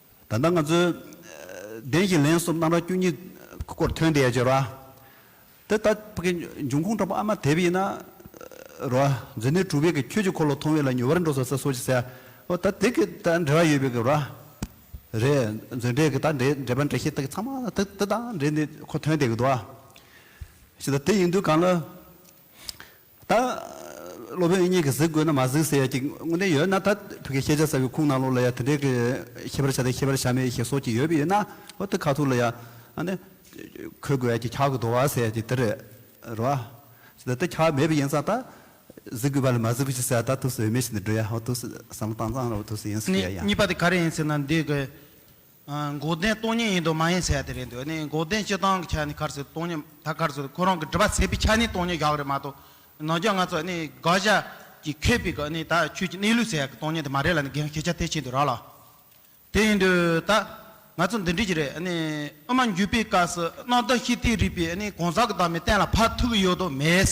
ད་ལྟ་ང་ཚོས་བདེན་བཞི་ལན་གསུམ་རྣམ་ར་བཅུ་གཉིས་སྐོར་ཐོན་བསྡད་ཅེས་རོ། དེ་ལྟ་བུ་གི་འབྱུང་ཁུངས་ཕྲ་མོ་ཨ་མ་དེབ་ཡིན་ན་རོ། འཛིན་ནི་གྲུབ་བས་གི་ཁྱོད་ཀྱི་འཁོར་ལོ་མཐོང་བས་ལ་ཉུལ་བར་འགྲོ་ས་ས་སོ་ཅི་ཟེར་ཨོ་ད་དེ་གི་ད་འབྲེལ་བ་ཡོད་པས་གི་རོ། རེད་མཛོད་འགྲེལ་གི་ད་འབྲེལ་འབྲེལ་པ་འགྲེལ་ཤེས་དག་གི་ཚང་མ་དེ་དེ་དང་འབྲེལ་ནས་ཁོ་ཐོན་བསྡད་གི་འདུག་ཨ། ཞེ་ད་དེ་ཡིན་དུས་གང་ལ། ད། སློབ་དཔོན་གཉིས་ཀྱིས་གཟིགས་དགོས་ན་མ་གཟིགས་ཟེར་ཡ་གྱི་དངོས་བདེན་ཡོད་ན་ད་བོད་ཀྱི་ཤེས་བྱ་གསར་བའི་ཁུངས་ནང་ལོགས་ལ་ཡ་དེ་འདྲའི་གི་ཤེས་པར་བྱ་དང་ཤེས་པར་བྱ་མེད་ཞེས་སོགས་ཀྱི་ཡོད་པའི་ཡོད་ན་ཨོ་དེ་ཁ་ཐུག་ལ་ཡ་ཨ་ནི། གོ་དགོས་ཡ་གྱི་ཁག་གི་དོ་བ་ཟེར་ཡ་གྱི་དེ་རེད་རེད་བ། ད་དེ་ཁག་མེད་པའི་ཡིན་ཙང་ད། གཟིགས་དགོས་པ་ལ་མ་གཟིགས་གི་ཟེར་ད་དུས་སུ་འོས་མེད་ཞིག་ཏུ་འགྲོ་ཡ་ཨོ་དུས་སུ་བསམ་བློ་བཏང་ཙང་ར་བ་དུས་སུ་ཡིན་སུ་ཡ་ཡ། གཉིས་པ་དེ་ག་རེ་ཡིན་ཟེར་ན་འདི་གི། འགོག་བདེན་སྟོང་ཉིད་ཡིན་དུ་མ་ཡིན་ཟེར་ཡ་དེ་རེད་འདོད་ནི་འགོག་བདེན་སྤྱི་སྟངས་ཀྱི་ཆ་ནས་ཁར་སོས་སྟོང་ཉིད་ད་ཁར་སོས་ཁོ་རང་གི་འདྲི་བ་ཟེར་བའི་ཆ་ནས་སྟོང་ཉིད་བཞག་རེད་མ་གཏོགས་ནང་རྒྱ་ང་ཚོ་ནི་དགག་བཞག་གིས་ཁེབས་པའི་གི་ནི་ད་ཆོས་ཀྱི་གནས་ལུགས་ཟེར་ཡ་གི་སྟོང་ཉིད་དེ་མ་རེད་ལ་ནི་འགན་ཁེ་ཆ་ཐེ་ཆེ་འདུག་ར་ལ་དེ་ཡིན་དུས་ད་ང་ཚོ་འདི་འདྲི་གི་རེད་ནི་ཨ་མ་འགྱུས་པའི་སྐབས་སུ་སྣང་དག་ཤི་སྟེ་རིག་པའི་ནི་གང་ཟག་གི་བདག་མེད་གཏན་ལ་ཕབ་ཐུབ་ཀྱི་ཡོད་དོ་མེད།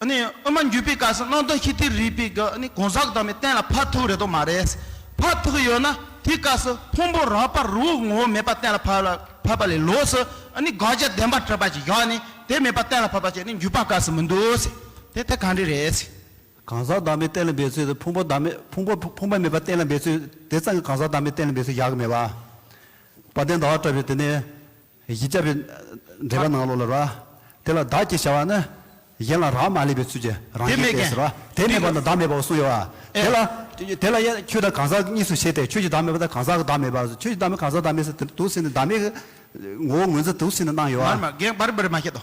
ཨུ་མ་འགྱུས་པའི་སྐབས་སུ་སྣང་སྟོང་ཤི་ཏིར་རིག་པའི་སྒོ་ནས་གང་ཟག་དྭངས་མའི་སྟན་ལ་ཕར་ཐུག་རེ་དོགས་མ་རེད། ཕར་ཐུག་ཡོད་ན་དེའི་སྐབས་སུ་ཕུང་པོ་རགས་པ་རི་བོའི་ངོ་བོ་མེད་པ་གཏན་ལ་ཕབ་པ་ལས་ལོགས་སུ་དགག་བྱ་བདེན་པར་གྲུབ་པ་ཞིག་བཞག་ནས་དེ་མེད་པ་གཏན་ལ་ཕབ་པ་བྱས་ནས་འགྱུས་པ་སྐབས་སུ་མི་འདུག་དེ་ཐད་གང་འདྲི་རེད། གང་ཟག་དྭངས་མའི་སྟན་ལ་འབད་ཚུལ་དེ་ཕུང་པོ་དྭངས་མེད་ཕུང་པོ་ཕུང་པོ་མེད་པ་གཏན་ལ་འབད་ཚུལ་དེ་ཙམ་གྱིས་གང་ཟག་དྭངས་མའི་སྟན་ལ་འབད་ཚུལ་བཞག་གི་མེད། བ་དན་ཟླ་བ་བཀྲ་བའི་དེ་ནས། གཞི་བཅའ་བའི་འགྲེལ་པ་ནང་ལོགས་ལ་ར། དེ་ལ་བདག་ཅེས་བྱ་བ་ནི། གཞན་ལ་རག་མ་ལས་པའི་ཚུལ་གྱིས་རང་གཞན་ཏེ་ཟེར་རོ། དེ་མེད་པ་ན་བདག་མེད་པའོ་གསུངས་ཡོད། དེ་ལ། དེ་ལ་ཡང་ཁྱོད་བདག་གང་ཟག་གཉིས་སུ་ཕྱེ་སྟེ་ཁྱོད་ཀྱི་བདག་མེད་པ་དང་གང་ཟག་གི་བདག་མེད་པ། ཁྱོད་ཀྱི་བདག་མེད་གང་ཟག་བདག་མེད་སོགས་དུག་བསྲིངས་ནས་བདག་མེད་ཀྱི། ངོ་བོ་ངོས་འཛིན་དུག་བསྲིངས་ནས་སྣང་ཡོད། མར་མར་རྒན་པར་འབུར་མ་ཤེས་དོ།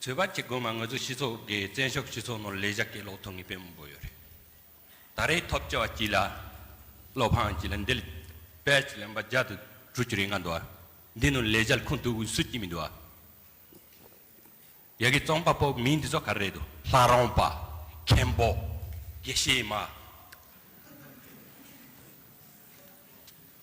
ཚོད་བར་གྱི་དགོན་མ་ངོས་ཚོ་སྤྱི་ཚོགས་དགེ་བཙན་ཤོག་སྤྱི་ཚོགས་ནོར་ལས་བཞག་གི་ལོག་ཐོ་ངེས་པའི་མང་པོ་ཡོད་རེད། ད་རེས་ཐོབ་བྱ་བ་སྤྱི་ལ། བློ་ཕངས་སྤྱི་ལ་འདེལ། དཔལ་སྤྱི་ལ་འབའ་རྒྱ་དུ་གྲུ་གྱུར་ཡིན་ང་འདུག་ཨ། འདི་ནོར་ལས་བཞག་ཁུངས་ཐུབ་བུ་སུ་གྱིས་མི་འདུག་ཨ། ཡ་གི་རྩོམ་པ་པོ་མི་འདི་ཚོ་ག་རེ་རེད་དོ། ལྷ་རོང་པ། མཁན་པོ། དགེ་བཤེས་མ།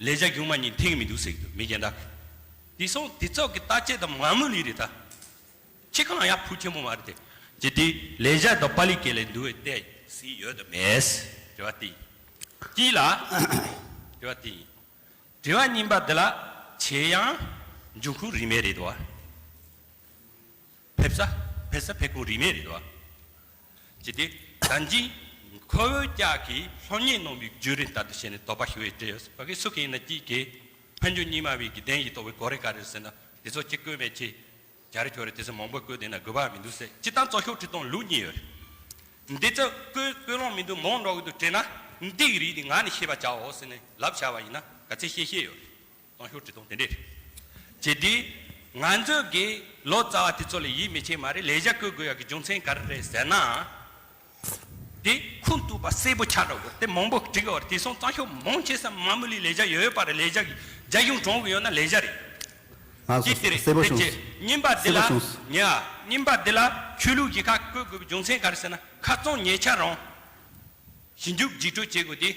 ལས་བྱ་སྒྱུ་མ་གཉིས་མཐིང་མི་འདུག་སེར་འདུག་མི་རྒན་དག་གིས། དེ་སོང་དེ་ཚོགས་ཀྱི་རྟགས་བྱེད་དམ་ང་མོ་ལི་རི་ད། ཁྱེད་གང་ཡག་ཕུ་ཆེན་པོ་མ་རེད་དེ། ཅི་དེ་ལས་བྱ་དང་པ་ལི་སྐད་ལས་འདུ་བའི་ལྟས་ཟིག་ཡོད་དམ་མེད། དྲི་བ་དེ་ཡིན། དྲི་བ་དེ་ཡིན། དྲི་བ་རྙིང་པ་འདི་ལ་ཇེ་ཡང་འཇུག་ཁུངས་རིན་མེད་རེད་དོ། ཕེབས་ས་ཕེབས་ས་ཕེབས་ཁུངས་རིས་མེད་རེད་བ། ཅི་སྟེ། ཟླ་འཇིགས། ཁོ་བོའི་ཀྱག་གིས་ལྷོད་གཉེར་གནང་བའི་བརྒྱུད་རིམ་ལྟར་དུ་བཤད་ནས་དོགས་པ་ཞུ་བའི་དྲི་ཡོད། བ་གས་སུ་གས་ཡིན་ན་སྐྱིད་གས། ཕན་ཆོད་གཉིས་སྨྲ་བའི་དགེ་ལྡན་གྱིས་རྟོགས་པའི་གོ་རེ་ག་རེར་ཟེར་ན་དེ་ཚོ་གཅིག་བཀོད་མེད་ཆེ། གྱ་རེ་ཁྱོ་རེ་དེ་ཚོ་མང་པོས་བཀོད་བསྡད་ན་དགོས་པ་མི་འདུག་ཟེར་སྤྱི་བཏང་གཙོ་ཤོག་ཁྲི་སྟོང་ལུགས་གཉིས་ཡོད་རེད། འདི་ཚོ་བཀོད་བཀོད་ལོང་མི་འདུག་མོང་འགྲོ་གི་འདུག་དྲན་ན་འདི་ཡི་རིགས་འདི་ང་ནས་ཤེས་པ་བྱའོ་ཟེར་ནས་ལབ་བྱ་བ་ཡིན་ན་ག་ཚད་ཤེས་ཤེས་ཡོད་རེད། ཏང་ཤོག་ཁྲི་སྟོང་དེ་འདྲས་རེད། བྱས་དུས། ང་ཚོས་ཀྱིས་ལོ་ཙཱ་བ་དེ་ཚོ་ལ་ཡིད་མི་ཆེས་མ་རེད་ལས་གཞག་བཀོལ་དགོས་ཡག་གི་རྒྱུ་མཚན་ག་རེ་རེད་ཟེར་ན། དེ་ཁུངས་གཏུགས་པ་གསལ་པོ་ཆགས་དྲགས་དགོས་དེ་མང་པོ་བྲི་དགོས་བར་དེ་སོང་ཏང་ཤོག་མང་ཆེ་ས་མ་མུ་ལི་ལས་གཞག་ཡོད་ཡོད་པ་རེད་ལས་གཞག་རྒྱ་གཞུང་གྲོང་གི་ཡོད་ན་ལས་གཞག་རེད། ང་ཚོ་གཅིག་དེ་རེད་གསལ་པོ་དེ་བྱས་བྱུང་རྙིང་པ་འདི་གསལ་ལ་པོ་བྱུང་སོང། ཉེ་བ་རྙིང་པ་འདི་ལ་ཆོས་ལུགས་ཀྱི་ཁ་བཀོལ་དགོས་པའི་རྒྱུ་མཚན་ག་རེ་ཟེར་ན་ཁ་བཙོང་ཉེས་ཆ་རང། ཞི་འཇུག་རྒྱུགས་སྤྲོད་བྱེད་དགོས་དུས།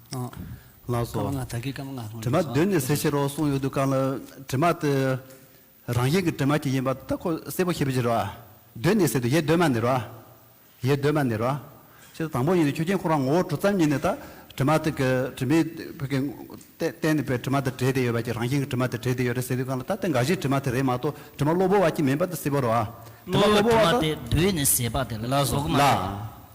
ལགས་སོ། དྲི་མ་གདོད་ནས་སེལ་ཕྱིར་རོ་གསུངས་ཡོད་འདུག་གང་ལ་དྲི་མ་དེ་རང་བཞིན་གྱི་དྲི་མ་གྱིས་ཡིན་པ་དེ་ཁོ་སེལ་བར་བྱེད་པའི་ཕྱིར་རོ། གདོད་ནས་སེལ་དུ་ཡེ་གདོད་མ་ནི་རོ། ཡེ་གདོད་མ་ནི་རོ། ཞེས་དང་པོ་ཡིན་ནི་ཆོས་ཅན་ཁོ་རང་ངོ་བོ་གྲུབ་ཙམ་ཉིད་ནས་ད་དྲི་མ་དེ་གི་དྲི་མའི་བུ་གའི་རྟེན་ནི་པའི་དྲི་མ་དང་བྲལ་ཏེ་ཡོད་པ་གྱི་རང་བཞིན་གྱི་དྲི་མ་དེ་བྲལ་ཏེ་ཡོད་རེད་ཟེར་དུས་གང་ལ་ད་དེ་འགའ་ཞིག་དྲི་མ་དེ་རེད་མ་གཏོགས་དྲི་མ་གློ་བུར་བ་གཅིག་མིན་པ་དེ་སེལ་བར་རོ། དྲི་མ་གློ་བུར་བ་དང། ལགས་སོ།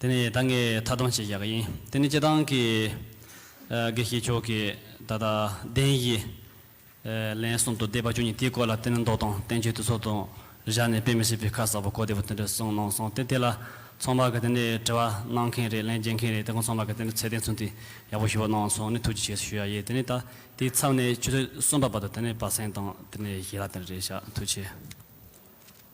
དེ་ནི་ད་ངས་མཐའ་སྡོམ་བྱེད་ཡག་ཡིན་དེ་ནི་སྤྱི་བཏང་གི་དགེ་བཤེས་མཆོག་གིས་ད་ལྟ་བདེན་གཞི་ལན་གསུམ་དང་བཟླས་པ་བཅུ་གཉིས་དེའི་སྐོར་ལ་བསྟན་མདོ་དང་བསྟན་བཅོས་དུས་ཚོད་དང་བཞག་ནས་དཔེ་མི་སྲིད་པའི་ཁ་གསལ་པོ་གོ་བདེ་པོ་དེ་འདྲ་གསུངས་གནང་སོང་སྟེ་དེ་ལ་ཚོང་པ་གི་དེ་ནི་དྲི་བ་གནང་མཁན་རེད་ལན་འབྱེད་མཁན་རེད་དེ་ཁོང་ཚོང་པ་གི་དེ་ནི་ཚད་ལྡན་ཚུན་དེ་ཡག་པོ་ཞུ་བ་གནང་སོང་ནས་ཐུགས་རྗེ་ཆེ་ཞུ་ཡག་ཡིན་དེ་ནི་ད་དེའི་མཚམས་ནས་ཆུ་ཚོད་གསུམ་པ་བར་དུ་དེ་ནི་བ་སེང་དང་དེ་ནི་ཞེ་ལ་དེ་འདྲ་རེད་ཤག་ཐུགས་ཆེ།